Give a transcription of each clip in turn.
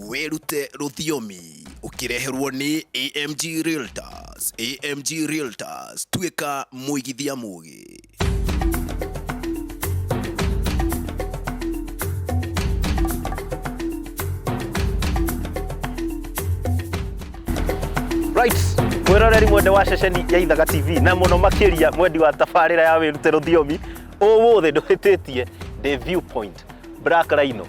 Wĩrute rũthiomi ũkĩreherwo nĩ AMG Realtors. AMG Realtors, tuĩka mũigithia mũgĩ. Right. Mwĩroreri mwende wa ceceni ya Ithaga TV na mũno makĩria mwendi wa tabarĩra ya wĩrute rũthiomi ũmũthĩ ndũhĩtĩtie ndĩ viewpoint Black Rhino.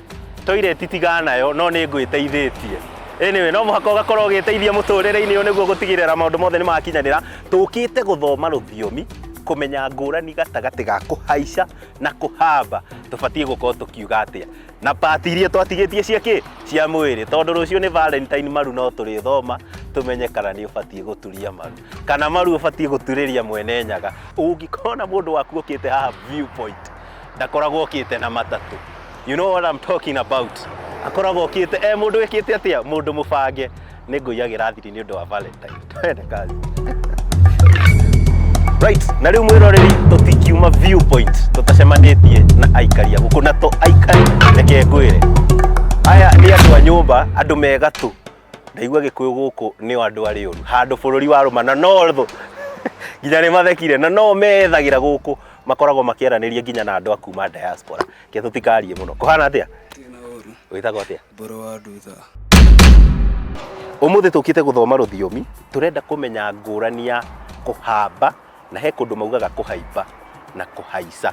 Toilet tiga nayo no nĩ ngwĩteithĩtie. Anyway, no mũhaka ũgakorwo ũgĩteithia mũtũrĩre-inĩ ũyũ nĩguo gũtigĩrĩra maũndũ mothe nĩ makinyanĩra. Tũkĩte gũthoma rũthiomi kũmenya ngũrani gatagatĩ ga kũhaica na kũhamba tũbatiĩ gũkorwo tũkiuga atĩa na pati iria twatigĩtie cia kĩ cia mwĩrĩ tondũ rũciũ nĩ valentine maru no tũrĩthoma tũmenye kana nĩ ũbatiĩ gũturia maru kana maru ũbatiĩ gũturĩria mwene nyaga ũngĩkorwo na mũndũ waku ũkĩte haha viewpoint ndakoragwo okĩte na matatũ you know what I'm talking about akoragwo okĩte eh mũndũ wĩkĩte atĩa mũndũ mũbange nĩ ngũiyagĩra thiri nĩ ũndũ wa valentine twende kazi right na rĩu mwĩroreri tũtikiuma viewpoint tũtacemanĩtie na aikari a gũkũ na to aikari reke ngwĩre aya nĩ andũ a nyũmba andũ me gatũ ndaigua gĩkũyũ gũkũ nĩo andũ arĩ ũru handũ bũrũri wa rũma na no thũ nginya nĩ mathekire na no methagĩra gũkũ makoragwo makĩaranĩria nginya na andũ a kuma diaspora ke tũtikarie mũno kũhana atĩa wĩtagwo atĩa mbũrũ wa ndutha ũmũthĩ tũkĩte gũthoma rũthiomi tũrenda kũmenya ngũrani ya kũhamba na he kũndũ maugaga kũhaimba na kũhaica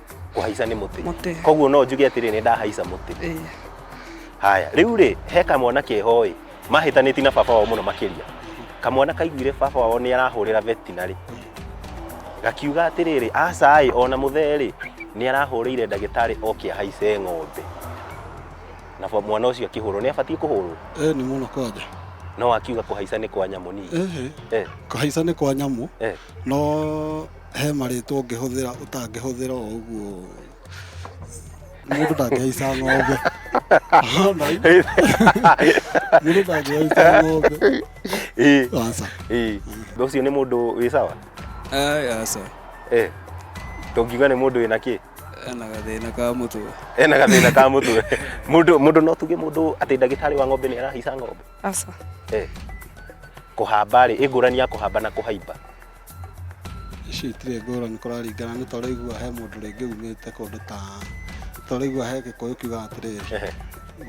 kũhaica nĩ mũtĩ Mũtĩ. koguo no njuge atĩrĩ nĩ ndahaica mũtĩ Ĩĩ. haya rĩu rĩ he kamwana keho ĩ mahĩtanĩti na baba wao mũno makĩria kamwana kaiguire baba wao nĩ arahũrĩra vetinarĩ gakiuga atĩrĩrĩ aca ĩ ona mũthee rĩ nĩ arahũrĩire ndagĩtarĩ oke ahaice ng'ombe na fa- mwana ũcio akĩhũrwo nĩ abatiĩ kũhũrwo Eh, nĩ mũno kwanja no akiuga kũhaica nĩ kwa nyamũ nini Ehe. eh, kũhaica nĩ kwa nyamũ eh. no he marĩtwa ũngĩhũthĩra ũtangĩhũthĩra o ũguo mũndũ ndangĩhaica ng'ombe Ona i- mũndũ ndangĩhaica ng'ombe Eh, aca eh. ũcio nĩ mũndũ wĩ sawa Ai, aca Eh, tũngiuga nĩ mũndũ wĩna kĩ ena gathĩna ka mũtwe ena gathĩna ka mũtwe mũndũ mũndũ no tuge mũndũ atĩ ndagĩtarĩ wa ng'ombe nĩ arahaica ng'ombe aca Eh, kũhamba rĩ ĩngũrani ya kũhamba na kũhaimba Ici itirĩ ngũrani kũraringana nĩ tũraigua he mũndũ rĩngĩ umĩte kũndũ ta tũraigua he gĩkũyũ kiugaga atĩrĩrĩ Ehe,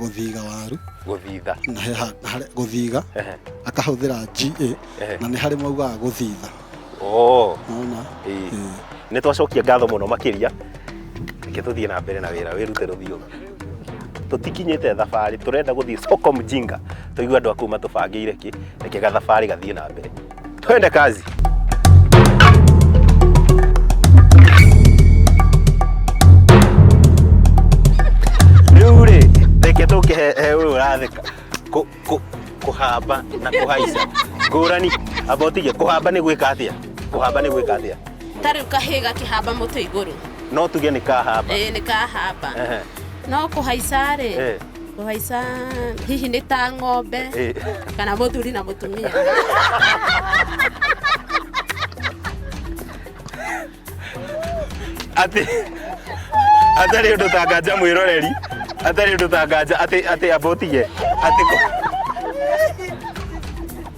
gũthiga waru gũthitha na he ha- harĩ- gũthiga Ehe, akahũthĩra ga Ehe. na nĩ harĩ maugaga gũthitha oo nona ĩĩ. nĩ twacokia ngatho mũno makĩria reke tũthiĩ na mbere na wĩra wĩrute rũthiomi tũtikinyĩte thabarĩ tũrenda gũthiĩ soko mjinga tũigua andũ a kũu matũbangĩire kĩ reke gathabarĩ gathiĩ na mbere Twende kazi. Rĩu rĩ, reke tũke he he ũyũ ũratheka Kũ- kũ- kũhamba na kũhaica ngũrani abotige kũhamba nĩ gwĩka atĩa kũhamba nĩ gwĩka atĩa ta rĩu kahĩĩ gakĩhamba mũtĩ igũrũ no tuge nĩ kahamba ĩĩ nĩ kahamba Ehe. no kũhaica rĩ Eh. Kũhaica hihi nĩ ta ng'ombe Eh. kana mũthuri na mũtumia. atĩ atarĩ ũndũ ta nganja mwĩroreri atarĩ ũndũ ta nganja atĩ atĩ abotige atĩ kũ-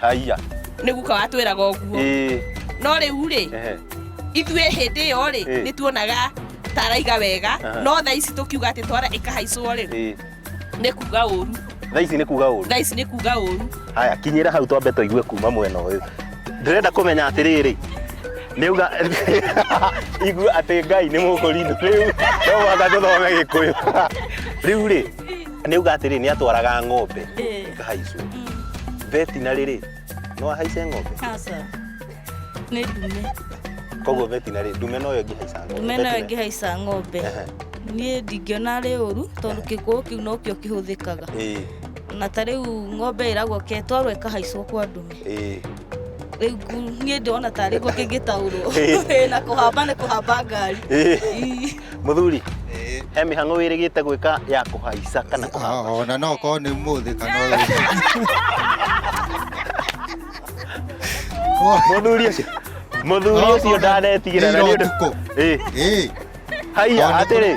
Haiya. nĩ guka watwĩraga ũguo Ĩĩ. no rĩu rĩ Ehe. ithuĩ hĩndĩ ĩyo rĩ Ĩĩ. nĩ tuonaga ta araiga wega Aha. no tha ici tũkiuga atĩ twara ĩkahaicwo rĩ Ĩĩ. nĩ kuga ũru Thaa ici nĩ kuga ũru. tha ici nĩ kuga ũru Haya, kinyĩra hau twambe tũigue kuma mwena ũyũ. Ndĩrenda kũmenya atĩrĩrĩ. Nĩuga igua atĩ Ngai nĩ mũkũrindu rĩu no mũhaka tũthome Gĩkũyũ. Rĩu rĩ, nä uga atä rä nä atwaraga ng'ombe Eh. ikahaicwo vetinarä rä no ahaice ng'ombe Aca. Nĩ ndume. koguo vetinarä ndume no yo ĩngä haica ng'ombe Ndume nayo Veterinary. ĩngĩhaica ng'ombe. Ehe. Niĩ ndingĩona arĩ ũru tondũ kĩkũũ kĩu nokĩo kĩhũthĩkaga. Ĩĩ, Na ta rĩu ng'ombe ĩragwo ke twarwo ĩkahaicwo kwa ndume. ĩĩ. Rĩu ku- niĩ ndĩrona tarĩ guo kĩngĩtaũrwo. Ĩĩ. Ĩĩ, Na kũhamba nĩ kũhamba ngari. Ĩĩ. Ii. Mũthuri, he mĩhang'o wĩrĩgĩte gwĩka ya kũhaica kana kũhamba. Oh, na no korwo nĩ mũthĩ kana Mũthuri ũcio. Mũthuri ũcio ndanetigĩra na nĩ ũndũ. Ĩĩ. Ĩĩ. Haiya atĩrĩ.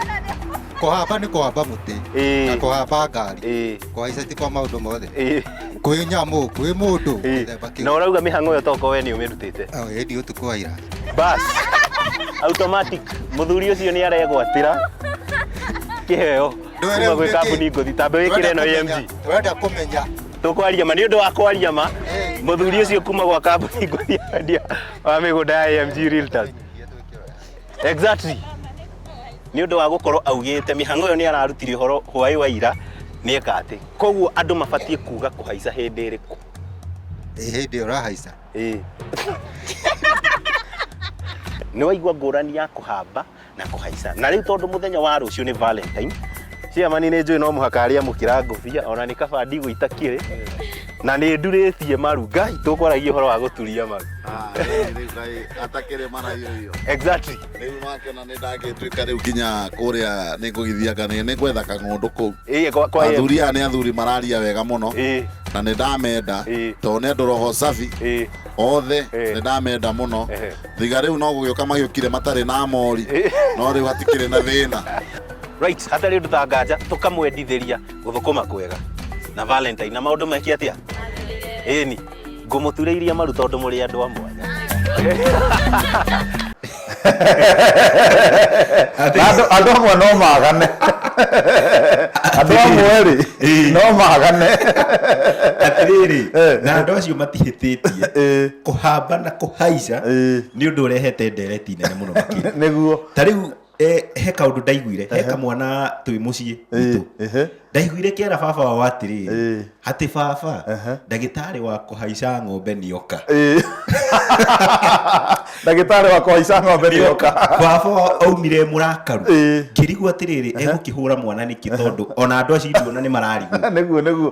Kũhamba nĩ kũhamba mũtĩ. Ĩĩ. Na kũhamba ngari. Ĩĩ. kwaica ti kwa maundu mothe Ĩĩ, kwĩ nyamu kwĩ mundu ĩĩ. githemba na kiu ũrauga mĩhang'o ĩyo toko we nĩ ũmĩrutĩte ĩndi utuku wa ira bas automatic mũthuri ũcio nĩ aregwatĩra kĩheo kuma gwĩ kambuni ngũthi tambe wĩkĩre ĩno AMG wenda kumenya tũkwaria ma nĩ ũndũ wa kwaria ma mũthuri ũcio kuma gwa kambuni ngũthi ya wendia wa mĩgũnda ya AMG Realtors Exactly. Nĩ ũndũ wa gũkorwo augĩte mĩhang'o ĩyo nĩ ararutire ũhoro hwaĩ wa ira nĩ eka atĩ. Koguo andũ mabatiĩ kuga kũhaica hĩndĩ ĩrĩkũ. Ĩ hĩndĩ ĩyo ũrahaica. Ĩĩ. Nĩ waigua ngũrani ya kũhamba na kũhaica. Na rĩu tondũ mũthenya wa rũciũ nĩ Valentine, ciamani nĩ njũĩ no mũhaka arĩa mũkĩra ngũbia ona nĩ kaba ndigũ itakĩrĩ na nĩ ndurĩtie maru ngai tũkwaragia ũhoro wa gũturia maru atakĩrĩ maraio iyo exactly rĩu makĩona nĩ ndangĩtuĩka rĩu nginya kũrĩa nĩ ngũgithia kanĩ nĩ gwetha kang'ũndũ kũu Ĩĩ, kwa- kwa- athuri aya nĩ athuri mararia wega mũno Ĩĩ, na nĩ ndamenda Ĩĩ. tondũ nĩ andũ roho safi ĩĩ, othe Ĩĩ. nĩ ndamenda mũno Ehe. thiga rĩu no gũgĩũka magĩũkire matarĩ na mori Ĩĩ. no rĩu hatikĩrĩ na thĩna right hatarä ndå ta nganja tå kamwendithä ria gå thå kå ma kwega na valentine na maå ndå meke atä a ä ni ngå må turä iria maru tondå må rä andå a mwanya Andũ- andũ amwe no magane andũ amwe rĩ Ĩĩ. no magane atiriri Eh. na andu acio matihititie Ĩĩ, kuhamba na kuhaica Ĩĩ. ni undu urehete ndereti nene muno makiri nĩguo ta riu Eh, he kaundu ndaiguire he kamwana twĩ mũciĩ witũ ehe ndaiguire kĩera baba wao atĩrĩ Eh. atĩ baba Ehe. ndagĩtarĩ wa kũhaica ng'ombe nĩoka Eh. ndagĩtarĩ wakwa waica ng'ombe nĩoka baba wao aumire mũrakaru Eh. ngĩrigwo atĩrĩrĩ egũkĩhũra mwana nĩkĩ tondũ ona andũ acio ithuona nĩ mararigwo nĩguo nĩguo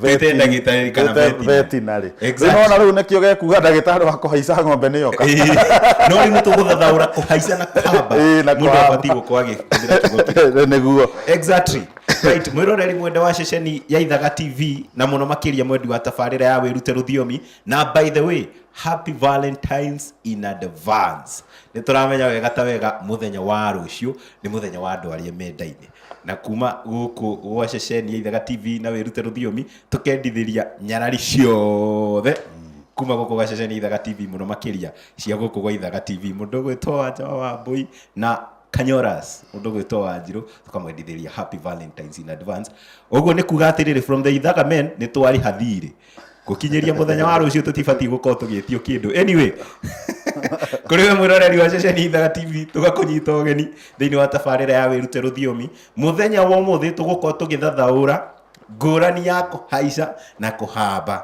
Twĩte ndagĩtarĩ kana Twĩte veterinary. veterinary. Exactly. Rĩu nĩwona rĩu nĩkĩo gekuga ndagĩtarĩ wa kũhaica ng'ombe nĩ yoka Ĩĩ, no rĩu nĩ tũgũthathaũra kũhaica na kũhamba Ĩĩ, na mũndũ kũhamba. abatiĩ gũkorwo agĩkĩhũthĩra kiugo kĩu nĩguo exactly right mwĩroreri mwenda wa ceceni ya ithaga tv na mũno makĩria mwendi wa tabarĩra ya wĩrute rũthiomi na by the way happy valentines in advance nĩ tũramenya wega ta wega mũthenya wa rũciũ nĩ mũthenya wa andũ arĩa mendaine na kuma gũkũ gwa ceceni ya ithaga tv na wĩrute rũthiomi tũkendithĩria nyarari ciothe kuma gũkũ gwa ceceni ya ithaga tv mũno makĩria cia gũkũ gwa ithaga tv mũndũ ũgwĩtwo wanja wa wambũi na kanyoras mũndũ ũgwĩtwo wanjirũ tũkamwendithĩria happy valentines in advance ũguo nĩ kuga atĩrĩrĩ from the ithaga men nĩ twarĩha thirĩ gukinyĩria muthenya wa rucio tutibatiĩ gukorwo tugĩtio kindu anyway kuri we mwiroreri wa ceceni ithaga tv tugakunyita ũgeni thĩinĩ wa tabarĩra ya wĩrute rũthiomi muthenya wa ũmũthĩ tũgũkorwo tũgĩthathaũra ngũrani ya kũhaica na kũhamba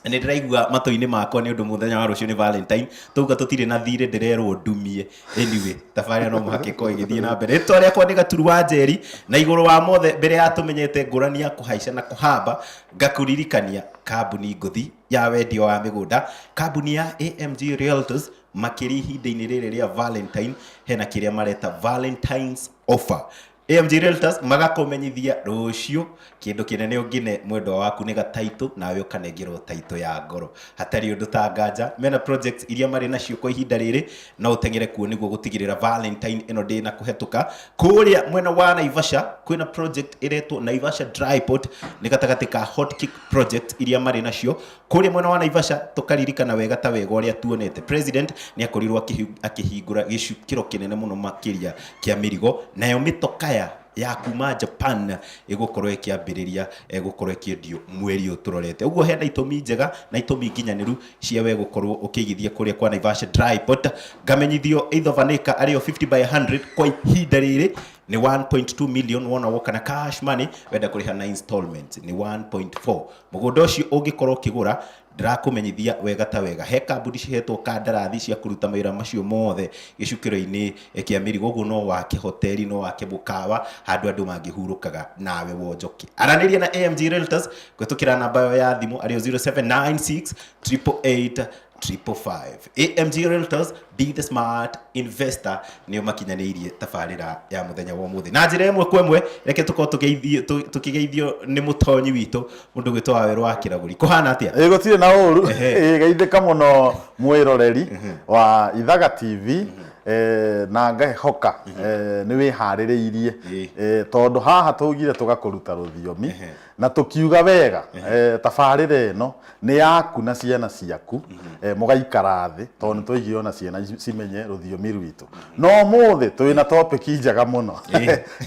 nä ndä raigua matå-inä makwa nä å ndå må thenya wa rå cio nä valentine tauga tå tirä na thirä ndä rerwo ndumie anyway tabarä no må hakä korwo ä gä thiä na mbere rä rä akwa nä gaturu wa njeri na igå rå wa mothe mbere ya tå menyete ngå rani ya kå haica na kå hamba Ngakũririkania kambuni ngũthi ya wendia wa mĩgũnda, kambuni ya AMG Realtors, makĩria ihinda-inĩ rĩrĩ rĩa Valentine, hena kĩrĩa mareta Valentine's offer. AMG Realtors magakũmenyithia rũciũ kĩndũ kĩnene ũngĩne mwendwa waku nĩ gataitũ nawe ũkanengerwo taitũ ya ngoro. Hatarĩ ũndũ ta nganja, mena projects iria marĩ nacio kwa ihinda rĩrĩ no ũteng'ere kuo nĩguo gũtigĩrĩra valentine ĩno ndĩ na kũhetũka kũrĩa mwena wa naivasha kwĩna project ĩretwo naivasha dryport nĩ gatagatĩ ka hot kick project iria marĩ nacio kũrĩa mwena wa naivasha tũkaririkana wega ta wega ũrĩa tuonete president nĩ akorirwo akĩhi- akĩhingũra gĩcukĩro kĩnene mũno makĩria kĩa mĩrigo nayo mĩtokaya ya kuma japan ĩgũkorwo ĩkĩambĩrĩria eh, gũkorwo ĩkĩendio mweri ũyũ tũrorete ũguo hena itũmi njega na itũmi nginyanĩru cia we gũkorwo ũkĩigithia kũrĩa kwa Naivasha Dry Port ngamenyithio either vanĩka arĩo 50 by 100 kwa ihinda rĩrĩ nĩ 1.2 million wona woka na cash money wenda kũrĩha na installments nĩ 1.4 mũgũnda ũcio ũngĩkorwo ũkĩgũra ndĩrakũmenyithia wega ta wega he kambuni cihetwo kandarathi cia kũruta mawĩra macio mothe gĩcukĩro-inĩ kĩa mĩrigo ũguo no wake hoteli no wake mũkawa handũ andũ mangĩhurũkaga nawe wonjoke aranĩria na AMG Realtors gwĩtũkĩra namba yo ya thimũ arĩo 0796 888 555 amg realtors be the smart investor nĩo makinyanĩirie tabarĩra ya mũthenya wa ũmũthĩ na njĩra ĩmwe kwa ĩmwe reke tũkorwo tũgeithio- tũ- tũkĩgeithio nĩ mũtonyi witũ mũndũ gwĩtwo wawerũ wa kĩragũri kũhana atĩa ĩĩ gũtirĩ na ũru Ĩĩ, geithĩka mũno mwĩroreri wa ithaga tv eh, na ngahoka eh, nĩ wĩharĩrĩirie Ĩĩ. Eh, tondũ haha tũgire tũgakũruta rũthiomi na tũkiuga wega eh, tabarĩra ĩno nĩ yaku na ciana ciaku eh, mũgaikara thĩ tondũ nĩ twaigire ona ciana ici cimenye rũthiomi rwitũ no mũthĩ twĩ na topic njega mũno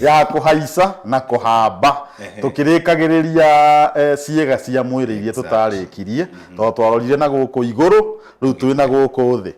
ya kũhaica na kũhamba tũkĩrĩkagĩrĩria eh, ciĩga cia mwĩrĩ iria tũtarĩkirie tondũ twarorire na gũkũ igũrũ rĩu twĩ na gũkũ thĩ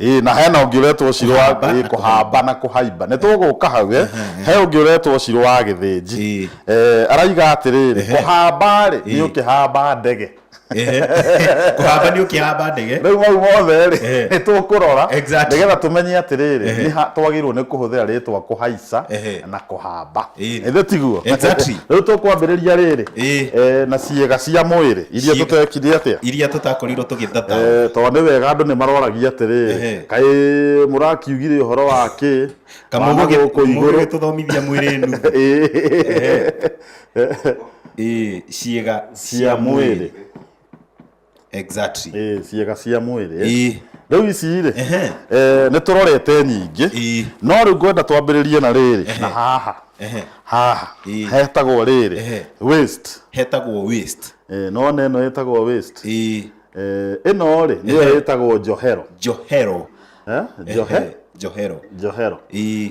Ĩĩ na hena ũngĩ ũretwo ciro wa Kũhamba ĩĩ, na kũhamba na kũhaimba nĩ tũgũka hau eh. he ũngĩ ũretwo ciro wa gĩthĩnji Ĩĩ. Eh, araiga atĩrĩrĩ kũhamba rĩ nĩ Ĩĩ. ũkĩhamba ndege Ehe. kũhamba nĩ ũkĩhamba ndege rĩu mau mothe rĩ Ehe. nĩ tũkũrora Exactly. nĩgetha tũmenye atĩrĩrĩ nĩ ha twagĩrĩirwo nĩ kũhũthĩra rĩtwa kũhaica kũhaica Ehe. na kũhamba Ĩĩ. ĩthĩ tiguo Exactly. rĩu tũkwambĩrĩria rĩrĩ Ĩĩ. Eh, na ciĩga cia mwĩrĩ iria Ciĩga. tũtekire atĩa iria tũtakorirwo tũgĩthata Eh, tondũ nĩ wega andũ nĩ maroragia Ehe. atĩrĩ kaĩ mũrakiugire ũhoro wa kĩ Wana gũkũ igũrũ kamũgũgĩtũthomithia mwĩrĩ nu Ĩĩ. Ĩĩ, ciĩga cia mwĩrĩ exactly ĩ, ciĩga cia mwĩrĩ Ĩ. rĩu ici rĩ Ehe. eh, nĩ tũrorete nyingĩ Ĩ. no rĩu ngwenda twambĩrĩrie na rĩrĩ na haha Ehe. haha Ĩ. hetagwo rĩrĩ Ehe. waste hetagwo waste Eh, no na ĩno ĩtagwo waste Ĩ. Eh, ĩno rĩ nĩyo Ehe. ĩtagwo njohero njohero Eh, njohe Ehe, njohero njohero Ĩ.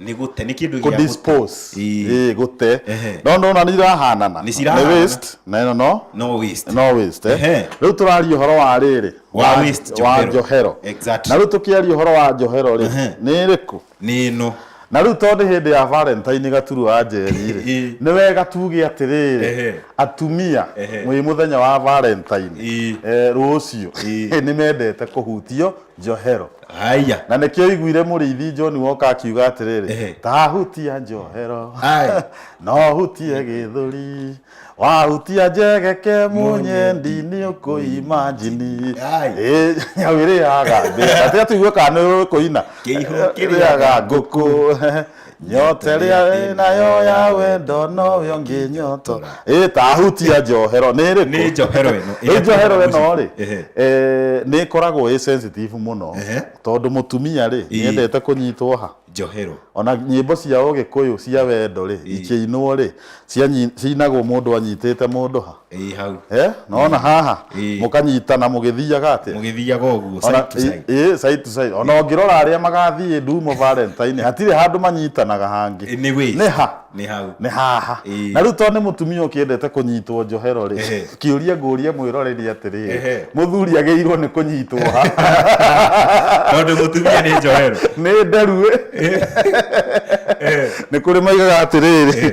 nĩ gũte nĩ kĩndũ gĩa gũte. kudispose Ii. eh gute Ehe. no no na nĩ irahanana Nĩ cirahanana. waste na ĩno no no waste no waste eh Ehe. rĩu tũraria ũhoro wa rĩrĩ Wa waste wa njohero. njohero Exactly. na rĩu tũkĩaria ũhoro wa njohero rĩ Ehe. nĩ ĩrĩkũ nĩ ĩno na rĩu tondũ nĩ hĩndĩ ya valentine gaturu wa njeri rĩ Ii. nĩ wega tuge atĩrĩrĩ Ehe. atumia Ehe. mwĩ mũthenya wa valentine Ii. eh, rũciũ Ii. nĩ mendete kũhutio njohero haya na nĩkĩo iguire mũrĩithi John woka akiuga Ehe. atĩrĩrĩ tahutia njohero Aye. no hutie gĩthũri wahutia njegeke mũnyendi nĩ ũkũima njini Aye. Ĩ, nyau ĩrĩaga mbĩa. Gatĩa tũigue kana nĩ ũkũina Kĩihũ kĩrĩaga Ĩrĩaga ngũkũ nyote rĩa wĩ nayo ya wendo nowe ũngĩ nyoto ĩ tahutia njohero nĩ ĩrĩkũ Nĩ njohero ĩno, ĩrĩa Ĩ njohero tũrona ĩno rĩ mũciĩ. Ehe. eh, nĩ ĩkoragwo ĩ sensitive mũno Ehe. tondũ mũtumia rĩ Ii. nĩendete kũnyitwo ha njohero ona nyĩmbo cia ũgĩkũyũ cia wendo rĩ ikĩinwo rĩ cianyi- ciinagwo mũndũ anyitĩte mũndũ ha ĩ hau Eh, naona haha Ĩĩ. mũkanyitana mũgĩthiaga atĩa mũgĩthiaga ũguo Ona- side to side. ĩ- ĩ, side to side. ona ũngĩrora arĩa magathiĩ ndumo valentine hatirĩ handũ manyitanaga hangĩ Ĩ, nĩ wĩ nĩ ha nĩ hau nĩ haha Ĩĩ. na rĩu tondũ nĩ mũtumia ũkĩendete kũnyitwo njohero rĩ Ehe. kĩũria ngũria mwĩrore nĩ atĩrĩ Ehe. mũthuri agĩirwo nĩ kũnyitwo ha tondũ mũtumia nĩ njohero nĩ nderu ĩ. nĩ kũrĩ maigaga atĩrĩrĩ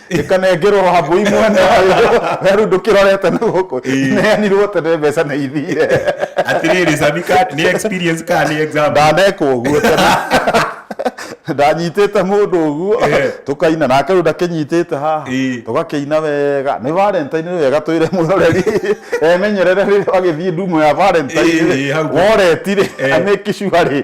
ĩkanengerwo wambũi mwene werũ ndũkĩrorete na gũkũ Ĩĩ. neanirwo tene mbeca na ithire atirĩrĩ sami ka nĩ experience ka nĩ exam ndanekwo ũguo tene ndanyitĩte mũndũ ũguo Ĩĩ. tũkaina nake rĩu ndakĩnyitĩte haha Ĩĩ. tũgakĩina wega nĩ valentine nĩ wega twĩre mwĩroreri emenyerere rĩrĩa wagĩthiĩ ndumo ya valentine Ĩĩ, hau. woretirĩ Ĩĩ. amĩkicua rĩ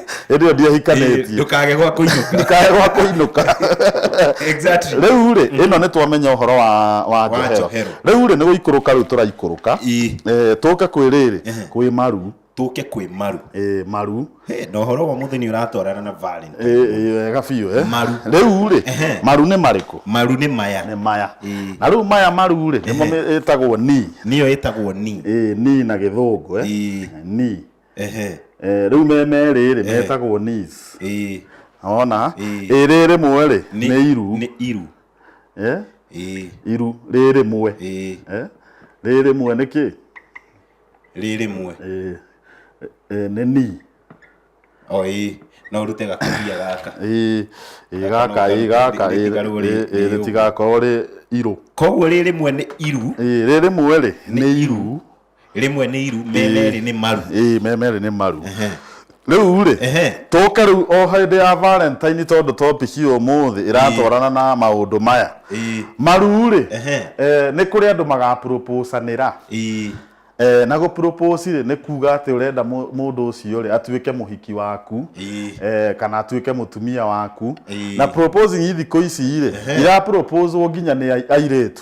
hĩndĩ ĩyo ndiahikanĩtie ndukage gwa kuinuka ndikae gwa kũinũka exactly rĩu rĩ ĩno nĩ twamenya ũhoro wa wa njohero njohero. rĩu rĩ nĩ gũikũrũka rĩu tũraikũrũka Ii. Eh, tũke kwĩ rĩrĩ kwĩ maru tuke kwĩ maru Eh, maru Hey, na ũhoro wa mũthenya ũratwarana na Valentine. Eh, eh, wega biũ eh. Maru. rĩu rĩ Ehe. maru nĩ marĩkũ maru nĩ maya nĩ maya Ii. na rĩu maya maru rĩ nĩmo ĩtagwo ni nĩyo ĩtagwo ni Eh, ni na gĩthũngũ eh. Ii. ni ehe Eh, rĩu me merĩ rĩ metagwo nis ĩĩ ona Ĩĩ. ĩ rĩ rĩmwe rĩ Nĩ- nĩ iru nĩ iru Eh, ĩĩ iru rĩ rĩmwe ĩĩ Eh, rĩ rĩmwe nĩ kĩ rĩ rĩmwe Eh, eh, nĩ ni o ĩĩ no ũrute gakũbia gaka ĩ ĩ gaka ĩ gaka ĩ Rĩtigarwo rĩ- ĩ- ĩ rĩ ũguo. rĩtigakorwo rĩ irũ koguo rĩ rĩmwe nĩ iru ĩ rĩ rĩmwe rĩ nĩ iru rimwe nĩ iru me Ĩĩ. merĩ nĩ maru ĩĩ me merĩ nĩ maru rĩu rĩ Ehe. tũke rĩu o hĩndĩ ya valentine tondũ topic ya ũmũthĩ ĩratwarana na maũndũ maya Ĩĩ. maru rĩ Ehe. eh, nĩ kũrĩ andũ magaproposanĩra Ĩĩ. Eh, na gũpropose rĩ nĩ kuga atĩ ũrenda mũ- mũndũ ũcio rĩ atuĩke mũhiki waku Ĩĩ. eh, kana atuĩke mũtumia waku Ĩĩ. na proposing thikũ ici rĩ Ehe. iraproposwo nginya nĩ ai- airĩtu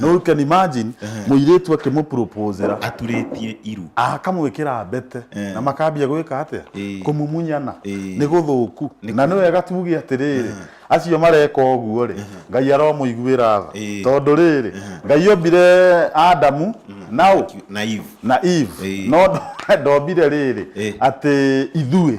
no you can imagine mũirĩtu akĩmũpropozera aturĩtie iru akamwĩkĩra mbete Eh. na makambia gwĩka atĩa Eh. kũmumunyana Eh. nĩ gũthũku na nĩ wega tuge atĩrĩrĩ acio mareka ũguo rĩ ngai aromũiguĩra tha Eh. tondũ rĩrĩ ngai ombire adamu nao na ivu na eve Eh. no ndo- ndombire rĩrĩ Eh. atĩ ithuĩ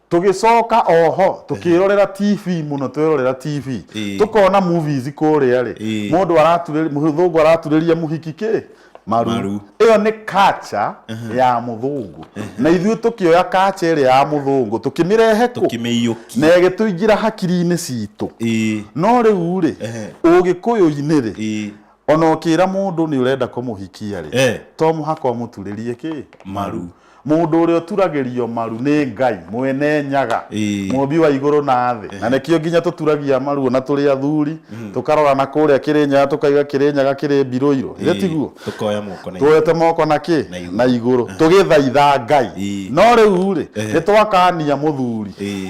tũgĩcoka oho tũkĩrorera tv mũno twĩrorera tv Ĩĩ. tũkona movies kũrĩa rĩ Ĩĩ. mũndũ araturĩria mũthũngũ araturĩria mũhiki kĩ maru Maru. ĩyo nĩ kacha ya mũthũngũ na ithuĩ tũkĩoya kacha ĩrĩa ya mũthũngũ tũkĩmĩrehe kũ kĩmĩiyũki na ĩgĩtũingĩra hakiri-inĩ citũ Ĩĩ. no rĩu rĩ Ehe. ũgĩkũyũ-inĩ rĩ Ĩĩ. ona ũkĩra mũndũ nĩ ũrenda kũmũhikia rĩ Eh. to mũhaka ũmũturĩrie kĩ maru Mũndũ ũrĩa ũturagĩrio maru nĩ Ngai, mwene nyaga, Ĩĩ. mũmbi wa igũrũ na thĩ. Na nĩkĩo nginya tũturagia maru ona tũrĩ athuri, tũkarora na kũrĩa Kĩrĩnyaga tũkaiga Kĩrĩnyaga kĩrĩ Mbiroirũ. Ĩĩ, tiguo? Tũkoya moko na Tuoete moko na kĩ? Na igũrũ. Na igũrũ. Tũgĩthaitha Ngai. Ĩĩ. No rĩu-rĩ, Ehe. nĩ twakania mũthuri. Ĩĩ.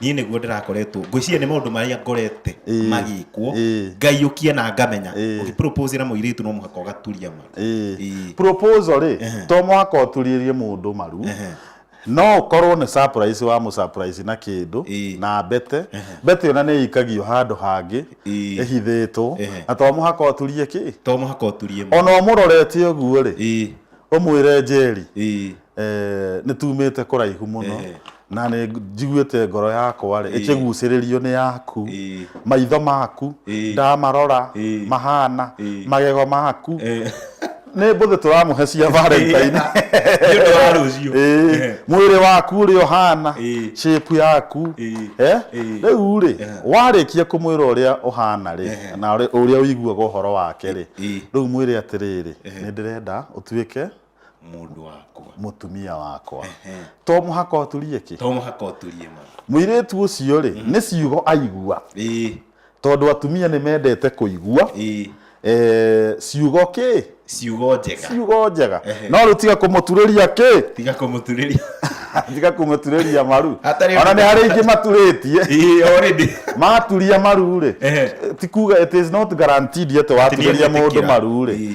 niä nä guo ndä rakoretwo ngwiciria nä maå ndå marä a ngorete Ĩĩ. magä kwo Ĩĩ. ngaiåkia na ngamenya Ĩĩ. å gä na må irä tu no må haka å gaturia ma Ĩĩ. Ĩĩ. proposal rĩ Ehe. to mwaka ũturĩrie mũndũ maru Ehe. no ũkorwo nĩ surprise wa mũsurprise na kĩndũ Ĩĩ. na mbete mbete ĩyo na nĩ ĩikagio handũ hangĩ Ĩĩ. ĩhithĩtwo Ehe. na to mũhaka ũturie kĩ to må haka å turie ma ona ũmũrorete ũguo rĩ Ĩĩ. ũmwĩre njeri Ĩĩ. eh, nĩ tumĩte kũraihu mũno Eh. na nĩ njiguĩte ngoro yakwa rĩ ĩkĩgucĩrĩrio nĩ yaku Ĩĩ. maitho maku Ĩĩ. ndamarora Ĩĩ. mahana Ĩĩ. magego maku Eh, nĩ mbũthĩ tũramũhe cia valentine nĩ ũndũ wa rũciũ Ĩĩ. Eh. mwĩrĩ waku ũrĩa ũhana Ĩĩ. shape yaku Ĩĩ. Eh? Ĩĩ. rĩu rĩ Eh. warĩkia kũmwĩra ũrĩa ũhana rĩ Ehe. na ũrĩa- ũrĩa ũiguaga ũhoro wake rĩ Ĩĩ. rĩu mwĩrĩ atĩrĩrĩ nĩ ndĩrenda ũtuĩke mũndũ wakwa mũtumia wakwa Ehe. to mũhaka ũturie kĩ to mũhaka ũturie ma mũirĩtu ũcio rĩ nĩ ciugo aigua ĩĩ tondũ atumia nĩ mendete kũigua ĩĩ eh, ciugo kĩ ciugo njega ciugo njega Ehe. no rĩu tiga kũmũturĩria kĩ tiga kũmũturĩria tiga kũmũturĩria maru Hatarĩ ona nĩ harĩ ingĩ maturĩtie ĩĩ already maturia maru rĩ Ehe. ti kuga it is not guaranteed atĩ waturĩria Atĩ nĩ mũndũ egwĩtĩkĩra. maru rĩ Ĩĩ.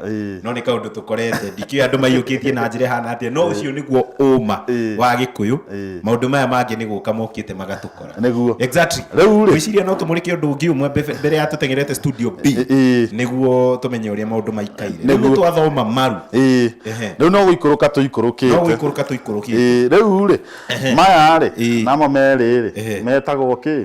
Ĩĩ. no nä kaå ndå tå korete ndikä andå maiyå kä tie na njä ra hana atä no å cio nä guo å ma Ĩĩ. wa gä kå yå Ĩĩ. maå ndå maya mangä nä gå ka mokä te magatå kora Nĩguo. Exactly. Rĩu-rĩ- Ngwĩciria no tũmũrĩke ũndũ ũngĩ ũmwe mbe- mbere ya tũtengerete studio B Ĩ- ĩ. nĩguo tũmenye ũrĩa maũndũ maikaire rĩu Nĩguo. twathoma maru Ĩĩ. Ehe. rĩu no gũikũrũka no tũikũrũkĩte gũikũrũka tũikũrũkĩte Ĩĩ, rĩu rĩ maya rĩ Ĩĩ. namo merĩ Ehe. rĩ metagwo kĩ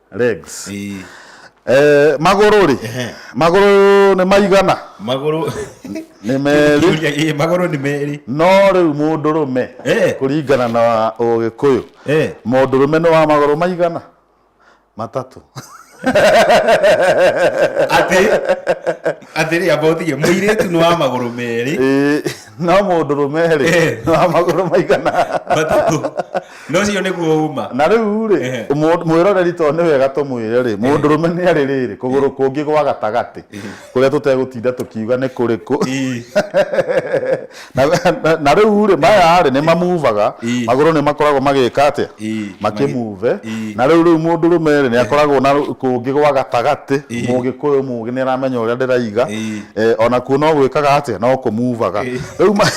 legs Ii, eh, magũrũ rĩ Ehe. magũrũ nĩ maigana magũrũ nĩ merĩ Kiuria, ii, magũrũ nĩ merĩ no rĩu mũndũrũme Eh. kũringana na ũgĩkũyũ Eh. mũndũrũme nĩ wa magũrũ maigana matatũ atĩ atĩ rĩ amba ũtige mũirĩtu nĩ wa magũrũ merĩ Ĩĩ, no mũndũrũme rĩ Eh. nĩ wa magũrũ maigana matatũ no cio nĩguo uma na rĩu rĩ Ehe. mũ- mwĩroreri to nĩ wega tũmwĩre rĩ mũndũrũme nĩ arĩ rĩrĩ kũgũrũ kũngĩ gwa gatagatĩ kũrĩa tũtegũtinda tũkiuga nĩ kũrĩkũ Ii. na, na, na rĩu rĩ maya rĩ nĩ mamuvaga Ii. magũrũ nĩ makoragwo magĩka atĩa Ii. makĩmuve Ii. na rĩu rĩu mũndũrũme rĩ nĩ akoragwo na rũ- kũngĩ gwa gatagatĩ Ii. mũgĩkũyũ mũgĩ nĩ aramenya ũrĩa ndĩraiga Ii. Eh, ona kuo no gwĩkaga atĩa no kũmuvaga Ii. rĩu ma-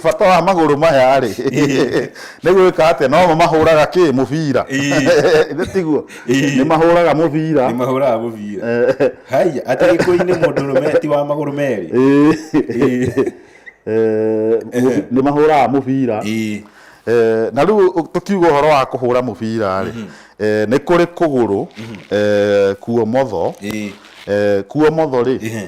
bata wa magũrũ maya rĩ Nĩ gwĩka atĩa? No mo mahũraga kĩ? Mũbira. Ĩĩ. Ithe tiguo? Ĩĩ. Nĩ mahũraga mũbira. Nĩ mahũraga mũbira. Eh. Haiya, atĩ gĩkũyũ-inĩ mũndũrũme ti wa magũrũ merĩ. Ĩĩ. Ĩĩ. Eh, mũbi- Nĩ mahũraga mũbira. Ĩĩ. Eh, na rĩu ũ- tũkiuga ũhoro wa kũhũra mũbira rĩ eh, nĩ kũrĩ kũgũrũ eh, kuomotho Ĩĩ. eh, kuomotho rĩ Ĩhĩ.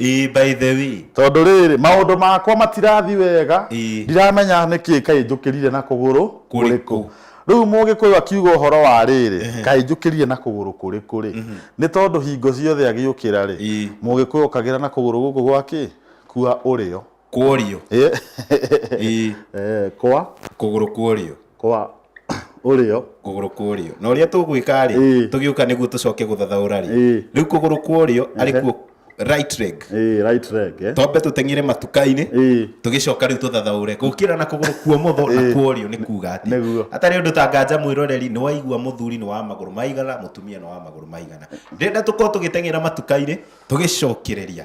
Ii, by the way. Tondũ rĩrĩ, maũndũ makwa matirathi wega, Ii. ndiramenya nĩ kĩĩ kaĩ njũkĩrire na kũgũrũ Kũrĩkũ. Rĩu Mũgĩkũyũ akiuga ũhoro wa rĩrĩ, kaĩ njũkĩrire na kũgũrũ kũrĩkũ rĩ? Nĩ tondũ hingo ciothe agĩũkĩra rĩ, Ii. Mũgĩkũyũ okagĩra na kũgũrũ gũkũ gwa kĩ? Kwa ũrĩo. kworio Eh, ii eh, kwa kũgũrũ kworio kwa ũrĩo kũgũrũ kworio na ũrĩa tũgwĩka rĩ Ĩĩ. tũgĩũka nĩguo tũcoke gũthathaũra rĩ Ĩĩ. rĩu kũgũrũ kworio arĩ kuo right leg Eh, right leg eh. twambe tũteng'ire matuka-inĩ Ĩĩ. tũgĩcoka rĩu tũthathaũre gũkĩra na kũgũrũ kuo motho na Ĩĩ. kuorio nĩ kuga atĩ Nĩguo. hatarĩ ũndũ ta nganja mwĩroreri nĩ waigua mũthuri nĩ wa magũrũ maigana mũtumia nĩ wa magũrũ maigana ndenda tũkorwo tũgĩteng'era matuka-inĩ tũgĩcokereria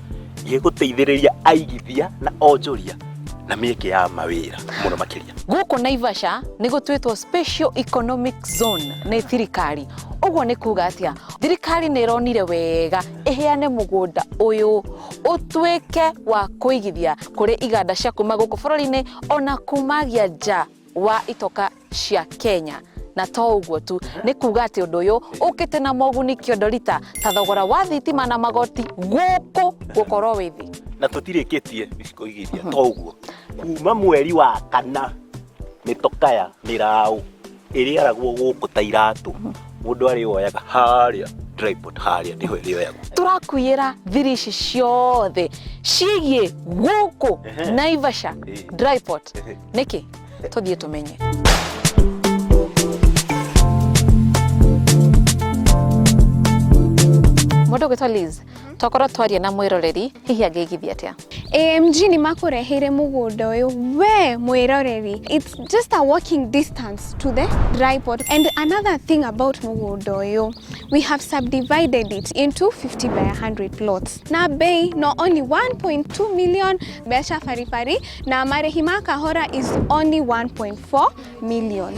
gĩgũteithĩrĩria aigithia na onjoria na mĩeke ya mawĩra mũno makĩria Gũkũ Naivasha nĩ gũtuĩtwo Special Economic Zone nĩ thirikari. Ũguo nĩ kuga atĩa? Thirikari nĩ ĩronire wega ĩheane mũgũnda ũyũ ũtuĩke wa kũigithia kũrĩ iganda cia kuma gũkũ bũrũri-inĩ ona kumagia nja wa itoka cia Kenya na to ũguo tu nĩ kuga atĩ ũndũ ũyũ ũkĩte na moguni kĩondo rita ta thogora wa thitima na magoti gũkũ gũkorwo wĩ thĩ na tũtirĩkĩtie gũcikoigithia to ũguo kuma mweri wa kana mĩtokaya mĩraũ ĩrĩaragwo gũkũ ta iratũ mũndũ arĩoyaga harĩa tripod harĩa nĩho ĩrĩoyagwo tũrakuĩra thiri ici ciothe ciĩgiĩ gũkũ Ehe. naivasha Ĩĩ. dryport nĩkĩ tũthiĩ tũmenye mũndũ ũgwĩtwo Liz tokorwo twaria na mwĩroreri hihi angĩigithia atĩa AMG nĩ makũreheire mũgũnda ũyũ we mwĩroreri it's just a walking distance to the dry port and another thing about mũgũnda ũyũ we have subdivided it into 50 by 100 plots na bei no only 1.2 million mbeca baribari Na marĩhi ma kahora is only 1.4 million.